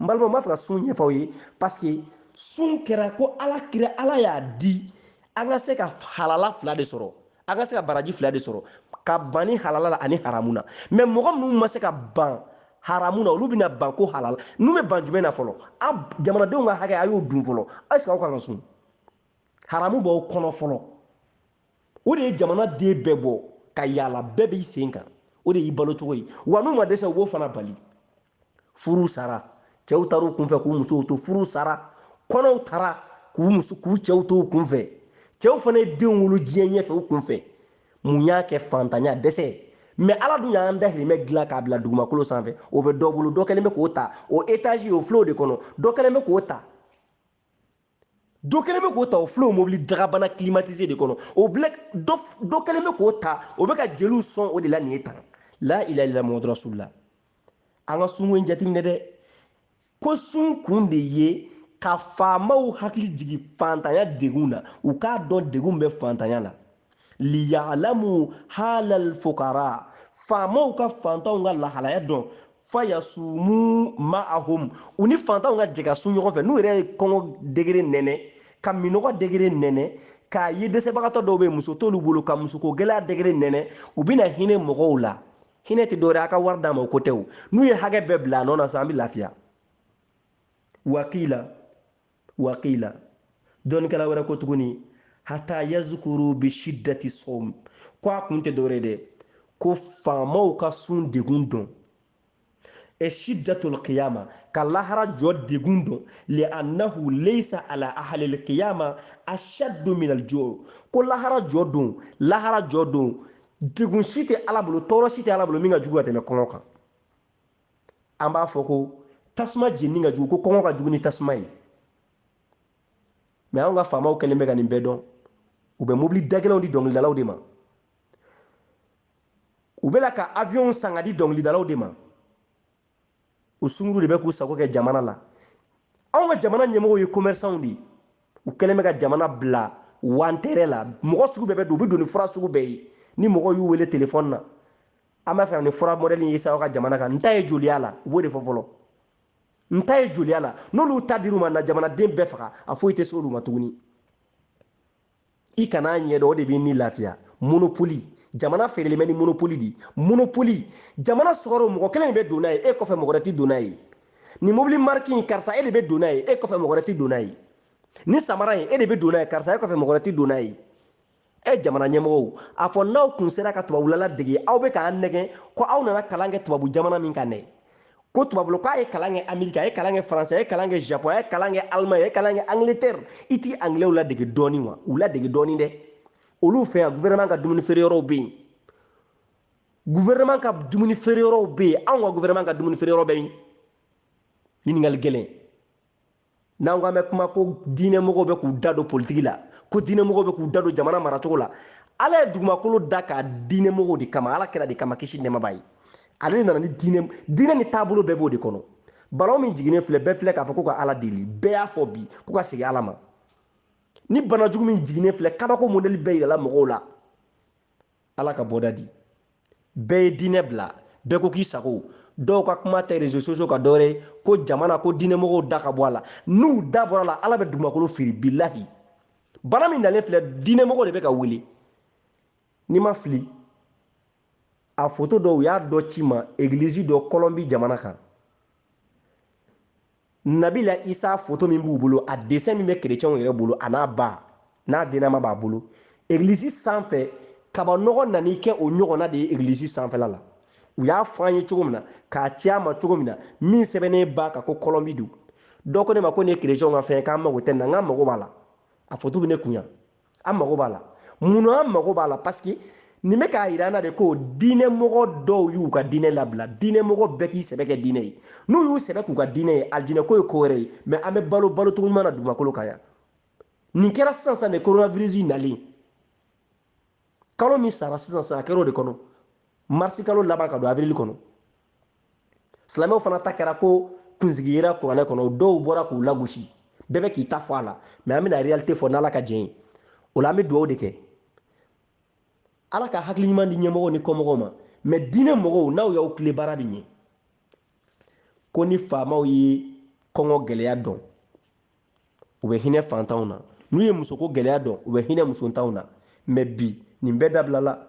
n balimaw n b'a fɛ ka sun ɲɛfɔ aw ye paseke sun kɛra ko ala y'a di an ka se ka halala fila de sɔrɔ an ka se ka baraji fila de sɔrɔ ka ban ni halala la ani haramu na mɛ mɔgɔ minnu ma se ka ban haramu na olu bɛna ban ko halala n'u bɛ ban jumɛn na fɔlɔ jamanadenw ka hakɛ a y'o dun fɔlɔ ɛsike aw kan ka sun haramu b'aw kɔnɔ fɔlɔ o de ye jamanaden bɛɛ bɔ ka yaala bɛɛ b'i sen kan o de y'i balo cogo ye wa n'u ma dɛsɛ u b'o fana bali furu sara cɛw taara u kunfɛ k'u musow to furu sara kɔnɔw taara k'u muso k'u cɛw to u kunfɛ cɛw fana ye denw wolo diɲɛ ɲɛfɛ u kunfɛ mun y'a kɛ fantanya dɛsɛ mɛ ala dun y'an dahirimɛ dilan k'a bila dugumakolo sanfɛ o bɛ dɔ bolo dɔ kɛlen bɛ k'o ta o etazi o filɛ o de kɔnɔ dɔ kɛlen bɛ k'o ta dɔ kɛlen bɛ k'o ta o filɛ o mobili dagabana climatisé de kɔnɔ o bilɛ dɔ kɛlen bɛ k'o ta o bɛ ka jeliw sɔn o de la nin ye tan la ilaha illallah muhamadu rasulullah an ka sunko in jateminɛ dɛ ko sun kun de ye ka faamaw hakili jigin faantanya degun na u k'a dɔn degun bɛ faantanya la liyalamu halal fukara faamaw ka fantanw ka lahalaya dɔn fayasumu ma'ahum u ni fantanw ka jɛ ka sun ɲɔgɔn fɛ n'u yɛrɛ ye kɔngɔ degere nɛnɛ ka minɔgɔ degere nɛnɛ k'a ye dɛsɛbagatɔ dɔw bɛ muso t'olu bolo ka musoko gɛlɛya degere nɛnɛ u bɛna hinɛ mɔgɔw la hinɛ tɛ dɔwɛrɛ a ka wari d'a ma o ko tɛ o n'u ye hakɛ bɛɛ bila a nɔ na sa an bɛ lafiya wakila waqiila dɔnnikɛla wɛrɛ ko tuguni hata yazukuru bi shiddati sawm ko a kun tɛ dɔwɛrɛ dɛ ko faamaw ka sun degun dɔn e shiddatul qiyama ka lahara jɔ degun dɔn li annahu laysa ala ahlil qiyama ashaddu min al ju' ko lahara jɔ don lahara jɔ don degun si tɛ ala bolo tɔɔrɔ si tɛ ala bolo min ka jugu ka tɛmɛ kɔngɔ kan an b'a fɔ ko tasuma jenini ka jugu ko kɔngɔ ka jugu ni tasuma ye mɛ anw ka faamaw kɛlen bɛ ka nin bɛɛ dɔn u bɛ mobili dagɛlɛnw di dɔnkilidalaw de ma u bɛ ka aviɔnw san ka di dɔnkilidalaw de ma u sunguru de bɛ k'u sago kɛ jamana la anw ka jamana ɲɛmɔgɔw ye kɔmɛrisanw de ye u kɛlen bɛ ka jamana bila wantɛrɛ la mɔgɔ sugu bɛɛ bɛ don u bɛ don ni fura sugu bɛɛ ye ni mɔgɔw y'u wele telefɔni na an b'a fɛ ni fura mɔdɛli ye sa aw ka jamana kan n ta ye joliya la u b'o de fɔ fɔlɔ n ta ye joliya la n'olu ta dir'u ma n'a jamanaden bɛɛ faga a foyi tɛ se olu ma tuguni i kana ɲɛdɔn o de b'i ni lafiya monopoli jamana feerelen bɛ ni monopoli de monopoli jamana sukaro mɔgɔ kelen de bɛ don n'a ye e kɔfɛ mɔgɔ wɛrɛ tɛ don n'a ye nin mobili mariki in karisa e de bɛ don n'a ye e kɔfɛ mɔgɔ wɛrɛ tɛ don n'a ye nin samara in e de bɛ don n'a ye karisa e kɔfɛ mɔgɔ wɛrɛ tɛ don n'a ye e jamana ɲɛmɔgɔw a fɔ n'aw kun sera ka tubabula ladege aw bɛ k'an nɛgɛn ko aw nana kalan kɛ tubabu jamana min kan dɛ ko tubabula k'a ye kalan kɛ amerika a ye kalan kɛ faransi a ye kalan kɛ japon a ye kalan kɛ alemaɲi a ye kalan kɛ angleterre i t'i anglɛw ladege dɔɔni wa u ladege dɔɔni dɛ olu fɛ yan gouvernement ka dumuni feere yɔrɔw bɛ yen gouvernement ka dumuni feere yɔrɔw bɛ yen anw ka gouvernement ka dumuni feere yɔrɔ bɛ yen ɲininkali gɛlɛn n'an ko an bɛ kuma ko diinɛmɔgɔw bɛ k'u da don politiki la ko diinɛmɔgɔw bɛ k'u da don jamana maracogo la ala ye dugumakolo da a ka diinɛmɔgɔw de kama ala kira de kama kisi nɛɛma b'a ye ale de nana ni diinɛ diinɛ ni taabolo bɛɛ b'o de kɔnɔ balawu min jiginnen filɛ bɛɛ filɛ k'a fɔ ko ka ala deli bɛɛ y'a fɔ bi ko ka segin ala ma ni bana jugu min jiginnen filɛ kabako modɛli bɛɛ yirala mɔgɔw la ala ka bɔda di bɛɛ ye diinɛ bila bɛɛ ko k'i sago dɔw ka kuma tɛ rezo sosiyo kan dɔwɛrɛ ko jamana ko diinɛmɔgɔw da ka bɔ a la n'u da bɔr'a la ala bɛ dugumakolo firi bilahi bana min nalen filɛ diinɛmɔgɔ de bɛ ka wele ni n ma fili a foto dɔw u y'a dɔ ci n ma egilizi dɔ kɔlɔnbi jamana kan nabila isa foto min b'u bolo a desɛn min bɛ kerecɛnw yɛrɛ bolo a n'a ba n'a dennama b'a bolo egilisi sanfɛ kaba nɔgɔ nan'i kɛ o ɲɔgɔnna de ye egilisi sanfɛla la u y'a fɔ an ye cogo min na k'a ci a ma cogo min na min sɛbɛnnen b'a kan ko kɔlɔnbi don dɔ ko ne ma ko nin ye kerecɛnw ka fɛn ye k'an mago tɛ nin na n k'an mago b'a la a foto bɛ ne kun yan an mago b'a la munna an mago b'a la parce que nin bɛ k'a yira an na de ko diinɛ mɔgɔ dɔw y'u ka diinɛ labila diinɛ mɔgɔ bɛɛ k'i sɛbɛ kɛ diinɛ ye n'u y'u sɛbɛ k'u ka diinɛ ye alijinɛ ko ye ko wɛrɛ ye mais an bɛ balo balo cogo ɲuman na dugumakolo kan yan nin kɛra sisan sisan de coronavirus nalen kalo min sara sisan sisan a kɛra o de kɔnɔ marisi kalo laban ka don avril kɔnɔ silamɛw fana ta kɛra ko kunsigi yera kuranɛ kɔnɔ dɔw bɔra k'u lagosi bɛɛ bɛ k'i ta fɔ a la mais an bɛna réalité fɔ n'ala ka jɛn ye o la an bɛ dugawu de kɛ ala ka hakili ɲuman di ɲɛmɔgɔw ni kɔmɔgɔw ma mais diinɛ mɔgɔw n'aw y'aw tilen baara bɛ ɲɛ ko ni faamaw ye kɔngɔ gɛlɛya dɔn u bɛ hinɛ fantanw na n'u ye musoko gɛlɛya dɔn u bɛ hinɛ musontanw na mais bi nin bɛɛ dabilala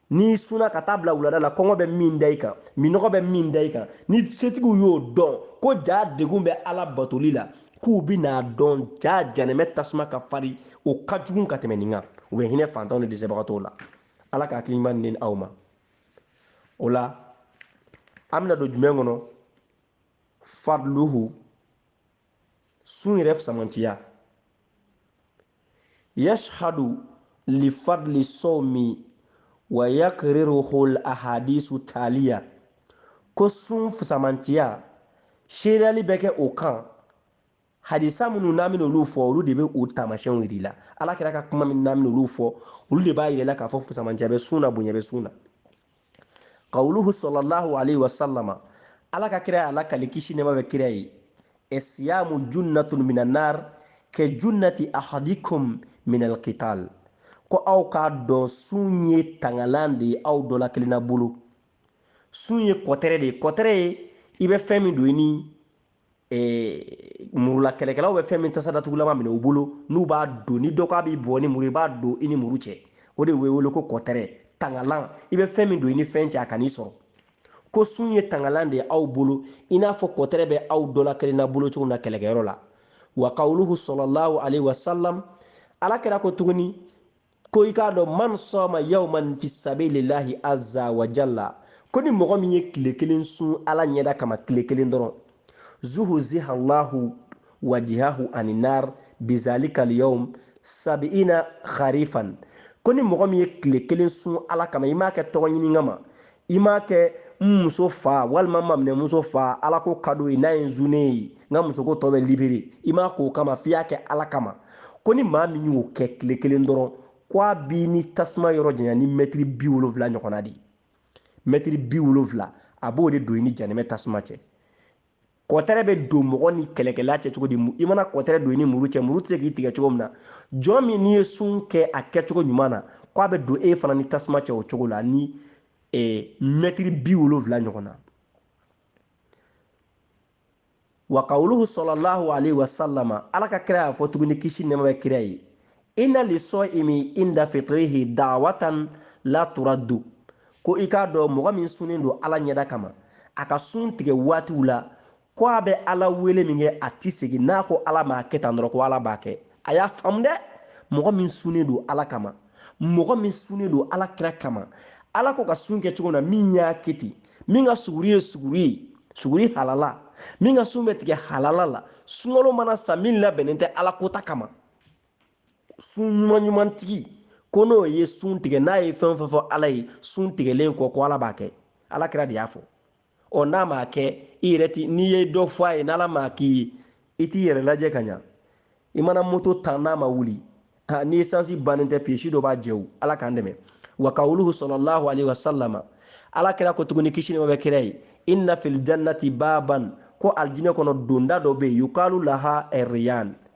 n'i sunna ka taa bila wulada la kɔngɔ bɛ min da i kan minnɔgɔ bɛ min da i kan ni setigiw y'o dɔn ko jaa degun bɛ ala batoli la k'u bi n'a dɔn jaa jahanama tasuma ka farin o ka jugun ka tɛmɛ nin kan u bɛ hinɛ fantanw ni dɛsɛbagatɔw la ala ka hakili ɲuman di aw ma o la an bɛna don jumɛn kɔnɔ fadluhu sun yɛrɛ fusamantiya yashhadu li fadli sawmi wa yaqriruhu al ahadisu taliya ko sun fusamantiya seereyali bɛ kɛ o kan hadisa minnu n'an bɛna olu fɔ olu de bɛ o taamasiyɛnw yir'i la ala kira ka kuma min n'an bɛna olu fɔ olu de b'a yir'i la k'a fɔ fusamantiya bɛ sun na bonya bɛ sun na kawuluhu sallallahu alayhi wa salama ala ka kira y'a lakali kisi nɛma bɛ kira ye esiyamu junnatun mina nar ka junnati ahadikum min alkital ko aw k'a dɔn sun ye tangalan de ye aw dɔ la kelenna bolo sun ye kɔtɛrɛ de ye kɔtɛrɛ ye i bɛ fɛn min don i ni Eh, murula kɛlɛkɛlaw bɛ fɛn min tasa datugulama minɛ u bolo n'u b'a don ni dɔ k'a b'i bon ni muru i b'a don i ni muru cɛ o de bɛ wele ko kɔtɛrɛ tangalan i bɛ fɛn min don i ni fɛn cɛ a kan'i sɔrɔ ko sun ye tangalan de ye aw bolo i n'a fɔ kɔtɛrɛ bɛ aw dɔla kelenna bolo cogo min na kɛlɛkɛyɔrɔ la wa kawuluhu sallallahu alayhi wa salam ala kira ko tuguni ko i k'a dɔn man sɔma yawman fi sabilillahi azza wa jalla ko ni mɔgɔ min ye tile kelen sun ala ɲɛda kama tile kelen dɔrɔn zuhuziha allahu wajihahu ani nar bizalika alyawm sabiina kharifan ko ni mɔgɔ min ye tile kelen sun ala kama i m'a kɛ tɔgɔ ɲini kama i m'a kɛ n muso fa walima n maminɛmuso fa ala ko ka d'o ye n'a ye n sunnen ye n ka musoko tɔ bɛ libere i m'a k'o kama f'i y'a kɛ ala kama ko ni maa min y'o kɛ tile kelen dɔrɔn ko a b'i ni tasuma yɔrɔ janya ni mɛtiri bi wolonfila ɲɔgɔnna de ye mɛtiri bi wolonfila a b'o de don i ni janɛmɛ tasuma cɛ kɔtɛrɛ bɛ don mɔgɔ ni kɛlɛkɛla cɛ cogo di i mana kɔtɛrɛ don i ni muru cɛ muru tɛ se k'i tigɛ cogo min na jɔn min n'i ye sun kɛ a kɛcogo ɲuman na ko a bɛ don e fana ni tasuma cɛ o cogo la ni eh, mɛtiri bi wolonwula ɲɔgɔn na wa kawuluhu sɔlɔlahu alayhi wa sallama ala ka kira y'a fɔ tuguni kisi nɛɛma bɛ kira ye inna lisɔimi inda fitrihi dawatan la turaddu ko i k'a dɔn mɔgɔ min sunnen don ala ɲɛda kama a ka sun tigɛ waatiw la ko a bɛ ala wele min kɛ a ti segin n'a ko ala m'a kɛ tan dɔrɔn ko ala b'a kɛ a y'a faamu dɛ mɔgɔ min sunnen don ala kama mɔgɔ min sunnen don ala kira kama ala ko ka sun kɛ cogo na min y'a kɛ ten min ka suguri ye suguri ye suguri halala min ka sun bɛ tigɛ halala la sunkalo mana sa min labɛnnen tɛ ala kota kama sun ɲuman ɲuman tigi ko n'o ye sun tigɛ n'a ye fɛn o fɛn fɔ ala ye sun tigɛlen kɔ ko ala b'a kɛ ala kira de y'a fɔ ɔ n'a m'a kɛ i yɛrɛ ti n'i ye dɔ fɔ a ye n'ala m'a k'i ye i t'i yɛrɛ lajɛ ka ɲa i mana moto tan n'a ma wuli ni esansi bannen tɛ piyesi dɔ b'a jɛ o ala k'an dɛmɛ wa kawuluhu sɔlɔlahu alaihi wasallama ala kira ko tuguni kisi nɛɛma bɛ kira ye inna fil jannati baban ko aljinɛ kɔnɔ donda dɔ bɛ yen yukalu lahu rayan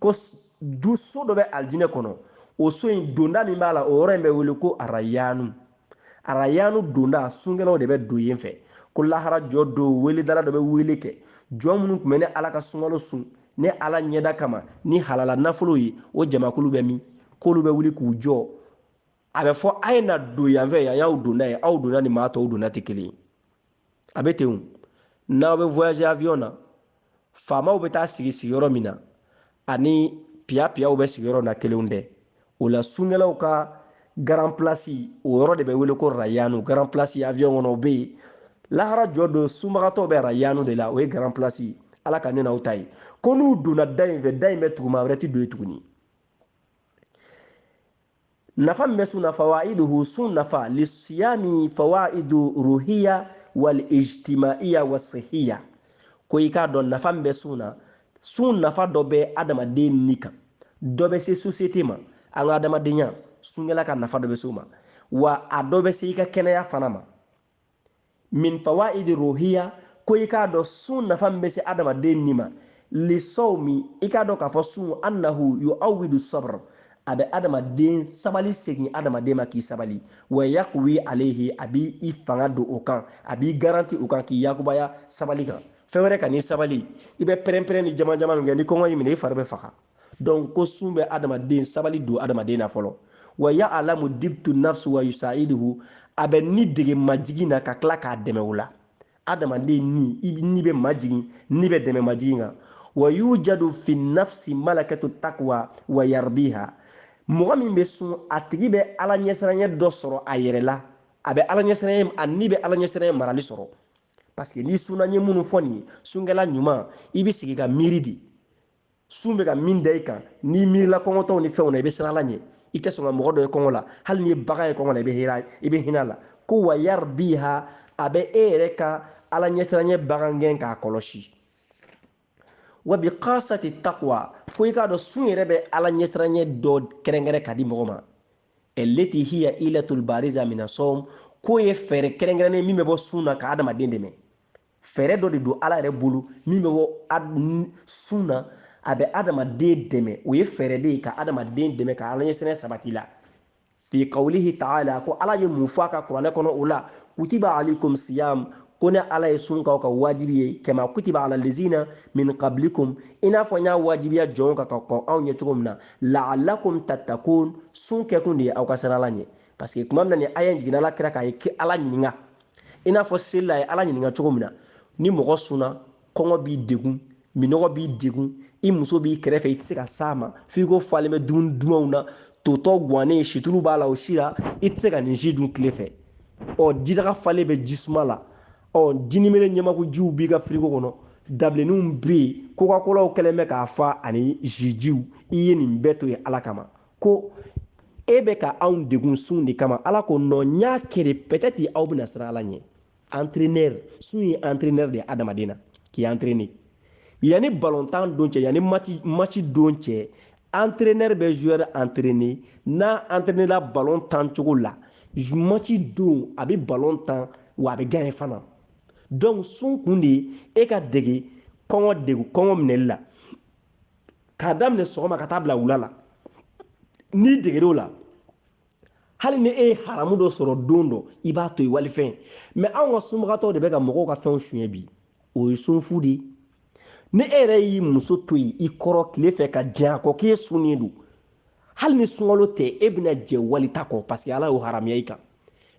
ko du so dɔ bɛ alijinɛ kɔnɔ o so in donda min b'a la o yɔrɔ in bɛ wele ko arayanu arayanu donda sunkɛlaw de bɛ don yen fɛ ko lahara jɔ don weledala dɔ bɛ wele kɛ jɔn minnu tun bɛ ne ala ka sunkalo sun ne ala ɲɛda kama ni halala nafolo ye o jamakulu bɛ min k'olu bɛ wuli k'u jɔ a bɛ fɔ a ye na don yanfɛ yan y'aw donda ye aw donda ni maa tɔw donda tɛ kelen ye a bɛ ten o n'aw bɛ voyager avion na faamaw bɛ taa sigi sigiyɔrɔ min na ani piyapiyaw bɛ sigiyɔrɔ na kelenw tɛ o la sunkɛlaw ka grand place o yɔrɔ de bɛ wele ko rayanu grand place avion kɔnɔ o bɛ yen lahara jɔ don sunbagatɔw bɛ rayanu de la o ye grand place ye ala ka ne n'aw ta ye ko n'u donna da in fɛ da in bɛ tugu maa wɛrɛ tɛ don yen tuguni nafa min bɛ sun na fawaiduhu sun nafa lisiyami fawaidu ruhiya wal ijtimaiya wa sihiya ko i k'a dɔn nafa min bɛ sun na sun nafa dɔ bɛ adamaden ni kan dɔ bɛ se sosiyete ma an ka adamadenya sunkɛla ka nafa dɔ bɛ se o ma wa a dɔ bɛ se i ka kɛnɛya fana ma min fawaidi ruhiya ko i k'a dɔn sun nafa min bɛ se adamaden ni ma lisawmi i k'a dɔn k'a fɔ sun annahu yuawidu sabr a bɛ adamaden sabali segin adamaden ma k'i sabali wa yakuwi alehi a b'i fanga don o kan a b'i garanti o kan k'i yakubaya sabali kan fɛn wɛrɛ ka n'i sabali i bɛ pɛrɛnpɛrɛn ni jamanjaman min kɛ ni kɔngɔ y'i minɛ i fari bɛ faga donc ko sun bɛ adamaden sabali don adamaden na fɔlɔ wa yaalamu dibtu nafsu wa yusaiduhu a bɛ ni dege majigin na ka tila k'a dɛmɛ o la adamaden ni i ni bɛ majigin ni bɛ dɛmɛ majigin kan wa yujadu fi nafsi malakatu takwa wa yarbiha mɔgɔ min bɛ sun a tigi bɛ ala ɲɛsiranyɛ dɔ sɔrɔ a yɛrɛ la a bɛ ala ɲɛsiranyɛ a ni bɛ ala ɲɛsiranyɛ marali sɔrɔ parce que n'i sunna n ye minnu fɔ nin ye sunkɛla ɲuman i bɛ sigi ka miiri de sun bɛ ka min da i kan n'i miirila kɔngɔtɔw ni fɛnw na i bɛ siran ala ɲɛ i tɛ sɔn ka mɔgɔ dɔ ye kɔngɔ la hali n'i ye bagan ye kɔngɔ la i bɛ hinɛ a la ko wa yarbiha a bɛ e yɛrɛ ka ala ɲɛsiranyɛ bagangɛn k'a kɔlɔsi wa bikasati takwa fo i k'a dɔn sun yɛrɛ bɛ ala ɲɛsiranyɛ dɔ kɛrɛnkɛrɛn ka di mɔgɔ ma allati hiya ilatul bariza mina sɔm k'o ye fɛɛrɛ kɛrɛnkɛrɛnnen min bɛ bɔ sun na ka adamaden dɛmɛ fɛɛrɛ dɔ de don ala yɛrɛ bolo min bɛ bɔ sun na a bɛ adamaden dɛmɛ o ye fɛɛrɛ de ye ka adamaden dɛmɛ ka ala ɲɛsiranyɛ sabati la fi kawlihi taala ko ala ye mun fɔ a ka kuranɛ kɔnɔ o la kutiba alaykum siyam ko ne ala ye sun k'aw ka wajibi ye kama kutiba ala lezina min qablikum i n'a fɔ n y'a wajibiya jɔnw kan ka kɔn aw ɲɛ cogo min na laalakum tattakun sun kɛkun de ye aw ka siran ala ɲɛ parce que tuma min na nin aya in jiginna ala kira kan a ye ala ɲininka i n'a fɔ seli la a ye ala ɲininka cogo min na ni mɔgɔ sunna kɔngɔ b'i degun minɔgɔ b'i degun i muso b'i kɛrɛfɛ i tɛ se ka s'a ma firigo falen bɛ dumuni dumanw na totɔ gwannen situlu b'a la o si la i tɛ se ka nin si dun tile fɛ ɔ jidaga falen bɛ ji suma la ɔ jinimere ɲɛmakujiw b'i ka firigo kɔnɔ dabilenninw bɛ yen kokakolaw kɛlen bɛ k'a fa ani zijiw i ye nin bɛɛ to yen ala kama ko e bɛ ka anw degun sun de kama ala ko non n y'a kɛ de peut-être aw bɛna siran ala ɲɛ entraîneur sun ye entraîneur de ye adamaden na k'i entraîner yanni balontan don cɛ yanni match don cɛ entraîneur bɛ joueur entraîner n'a entraîner la ballon tan cogo la match don a bɛ ballon tan wa a bɛ gagner fana donc sun kun de ye e ka dege kɔngɔ degun kɔngɔ minɛli la k'a daminɛ sɔgɔma ka taa bila wula la n'i deger'o la hali ni e ye haramu dɔ sɔrɔ don dɔ i b'a to yen walifɛn mais anw ka sunbagatɔw de bɛ ka mɔgɔw ka fɛnw suɲɛ bi o ye sunfu de ye ni e yɛrɛ y'i muso to yen i kɔrɔ tile fɛ ka jɛ a kɔ k'e sunnen don hali ni sunkalo tɛ e bɛna jɛ walita kɔ parce que ala y'o haramuya i kan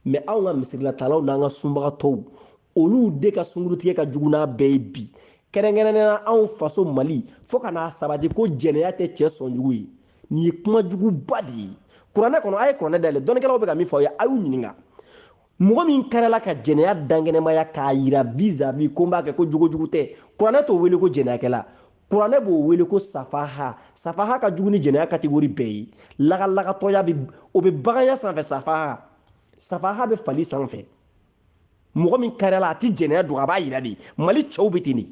mais anw ka misirilataalaw n'an ka sunbagatɔw olu de ka sunkurutigɛ ka jugu n'a bɛɛ ye bi kɛrɛnkɛrɛnnenya anw faso mali fo ka n'a sabati ko jɛnɛya tɛ cɛ sɔn jugu ye nin ye kuma juguba de ye kuranɛ kɔnɔ a ye kuranɛ dayɛlɛ dɔnnikɛlaw bɛ ka min fɔ aw ye a y'u ɲininka mɔgɔ min kariyala ka jɛnɛya dankɛnɛmaya k'a yira vis-à-vis ko n b'a kɛ ko jogojugu tɛ kuranɛ t'o wele ko jɛnɛyakɛla kuranɛ b'o wele ko safaha safaha ka jugu ni jɛnɛya catégorie bɛɛ ye lagalagatɔya o bɛ baganya sanfɛ safaha safaha bɛ fali sanfɛ mɔgɔ min kariyala a tɛ jɛnɛya dogo a b'a yira de mali cɛw bɛ ten de n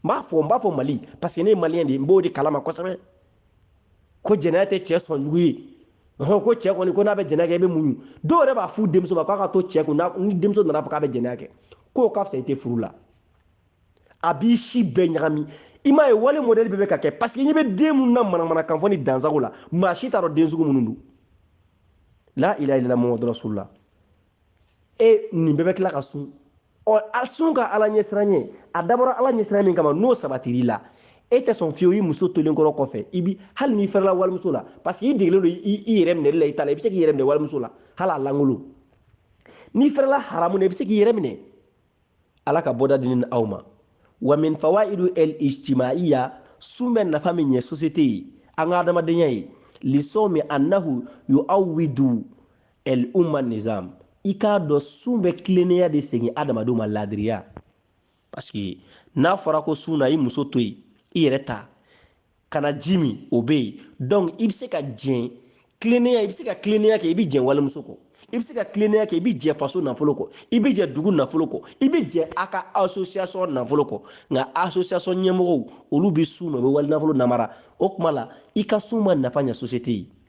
b'a fɔ n b'a fɔ mali parce que ne ye maliyɛn de ye n b'o de kalama kosɛbɛ ko jɛnɛya tɛ cɛ sɔn jugu ye ko cɛ kɔni ko n'a bɛ jɛnɛya kɛ i bɛ muɲu dɔw yɛrɛ b'a f'u denmuso ma k'a ka to cɛ kun ni denmuso nana fɔ k'a bɛ jɛnɛya kɛ k'o ka fisa i tɛ furu la a b'i si bɛɛ ɲagami i m'a ye wale modèle bɛ ka kɛ parce que n'i bɛ den minnu na manamana kan fɔ ni dansago la maa si t'a dɔn den sugu minnu don la ilaha illallah muhamadu rasulullah e nin bɛɛ bɛ tila ka sun ɔ a sun ka ala ɲɛsiranɲɛ a dabɔra ala ɲɛsiranya min kama n'o sabatir'i la e tɛ sɔn fiyewu i muso tolen kɔrɔ kɔfɛ i bi hali n'i fɛrɛla walimuso la parce que i degelen don i yɛrɛ minɛli la i ta la i bɛ se k'i yɛrɛ minɛ walimuso la hali a lankolon n'i fɛrɛla haramu na i bɛ se k'i yɛrɛ minɛ ala ka bɔda di n ni aw ma wa min fawaidu el ijtimaiya sun bɛ nafa min ɲɛ société ye an ka adamadenya ye lisawmi annahu yu'awwidu el umma nizam i k'a dɔn sun bɛ tilennenya de segin adamadenw ma laadiriya parce que n'a fɔra ko sun na i muso to yen i yɛrɛ ta kana ji min o bɛ yen donc i bɛ se ka jɛ tilennenya i bɛ se ka tilennenya kɛ i bɛ jɛ walimuso kɔ i bɛ se ka tilennenya kɛ i bɛ jɛ faso nafolo kɔ i bɛ jɛ dugu nafolo kɔ i bɛ jɛ a ka association nafolo kɔ nka association ɲɛmɔgɔw olu bɛ sun na u bɛ wali nafolo namara o tuma la i ka sun ma nafa ɲɛ société ye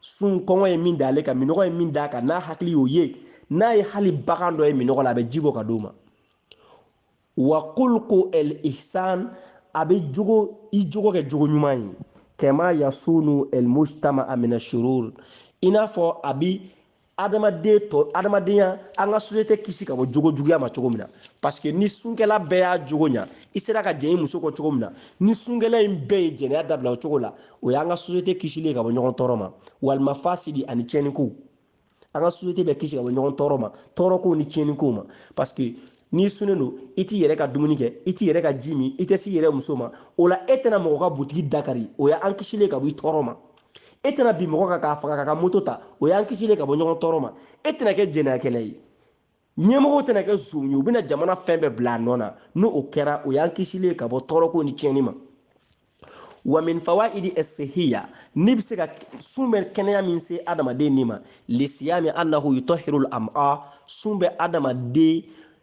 sun kɔngɔ ye min da ale kan minnɔgɔ ye min d'a kan n'a hakili y'o ye n'a ye hali bagan dɔ ye minnɔgɔ la a bɛ ji bɔ ka d'o ma wa kulku el ihsan a bɛ jogo i jogo kɛ jogo ɲuman ye kama yasunu el mujtama'a mina shurur i n'a fɔ a bi adamaden tɔ adamadenya an ka sosiyete kisi ka bɔ jogo juguya ma cogo min na paseke ni sunkɛla bɛɛ y'a jogo ɲa i sera ka jɛn i muso kɔ cogo min na ni sunkɛla in bɛɛ ye jɛnɛya dabila o cogo la o y'an ka sosiyete kisilen ka bɔ ɲɔgɔn tɔɔrɔ ma walima fasidi ani tiɲɛnikow an ka sosiyete bɛ kisi ka bɔ ɲɔgɔn tɔɔrɔ ma tɔɔrɔkow ni tiɲɛnikow ma paseke n'i sunnen don i t'i yɛrɛ ka dumuni kɛ i t'i yɛrɛ ka ji min i tɛ s'i yɛrɛ muso ma o la e tɛna mɔgɔ ka butigi dakari o y'an kisilen ka bɔ i tɔɔrɔ ma e tɛna bin mɔgɔ kan k'a faga k'a ka moto ta o y'an kisilen ye ka bɔ ɲɔgɔn tɔɔrɔ ma e tɛna kɛ jɛnɛyakɛla ye ɲɛmɔgɔw tɛna kɛ zonw ye u bɛna jamana fɛn bɛɛ bila a nɔ na ni o kɛra o y'an kisilen ye ka bɔ tɔɔrɔko ni tiɲɛni ma wa min fawaidi sihiya ni bɛ se ka sun bɛ kɛnɛya min se adamaden ni ma lisiyami annahu yutahirul am'a sun bɛ adamaden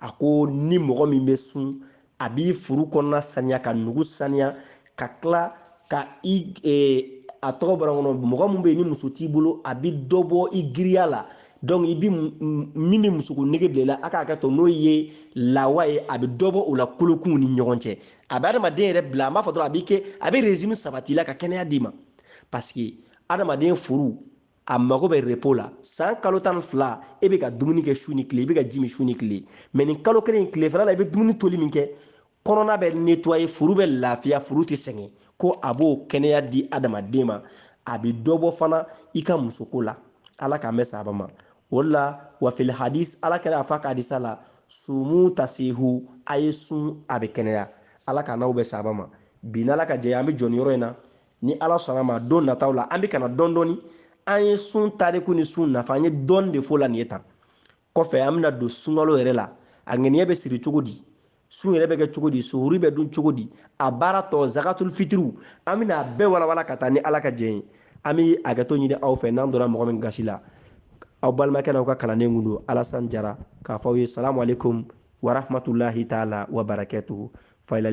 a ko ni mɔgɔ min bɛ sun a b'i furu kɔnɔna saniya ka nugu saniya ka tila ka i e, a tɔgɔ bara kɔnɔ mɔgɔ min bɛ yen ni muso t'i bolo a bɛ dɔ bɔ i girinya la donc i bi min bɛ musoko nege bila i la a k'a kɛ to n'o ye lawa ye a bɛ dɔ bɔ o la kolokunw ni ɲɔgɔn cɛ a bɛ adamaden yɛrɛ bila an b'a fɔ dɔrɔn a b'i kɛ a bɛ régime sabati i la ka kɛnɛya d'i ma parce que adamaden furu a mago bɛ repo la san kalo tan ni fila e bɛ ka dumuni kɛ su ni tile i bɛ ka ji min su ni tile mɛ nin kalo kelen in tilefɛla la i bɛ dumuni toli min kɛ kɔnɔna bɛ netwaye furu bɛ lafiya furu tɛ sɛgɛn ko a b'o kɛnɛya di adamaden ma a bɛ dɔ bɔ fana i ka musoko la ala k'an bɛɛ saba ma o de la wa fil hadis ala kira y'a fɔ a ka hadisa la sumu tasihu a ye sun aw bɛ kɛnɛya ala k'an n'aw bɛɛ saba ma bi n'ala ka jɛ an bɛ jɔ nin yɔrɔ in na ni ala sɔnna a ma don nataw la an bɛ ka na dɔɔni dɔɔni an ye sun tariku ni sun nafa an ye dɔɔni de fɔ o la nin ye tan kɔfɛ an bɛna don sunkalo yɛrɛ la a ŋaniya bɛ siri cogo di sun yɛrɛ bɛ kɛ cogo di suhuri bɛ dun cogo di a baara tɔ zakatul fitiriw an bɛna a bɛɛ walawala ka taa ni ala ka jɛ ye an bɛ hakɛto ɲini aw fɛ n'an donna mɔgɔ min gasi la aw balimakɛ n'aw ka kalanden tun don alasan jara k'a fɔ aw ye salamu aleykum warahmatulahi taala wabarakatuhu fayilale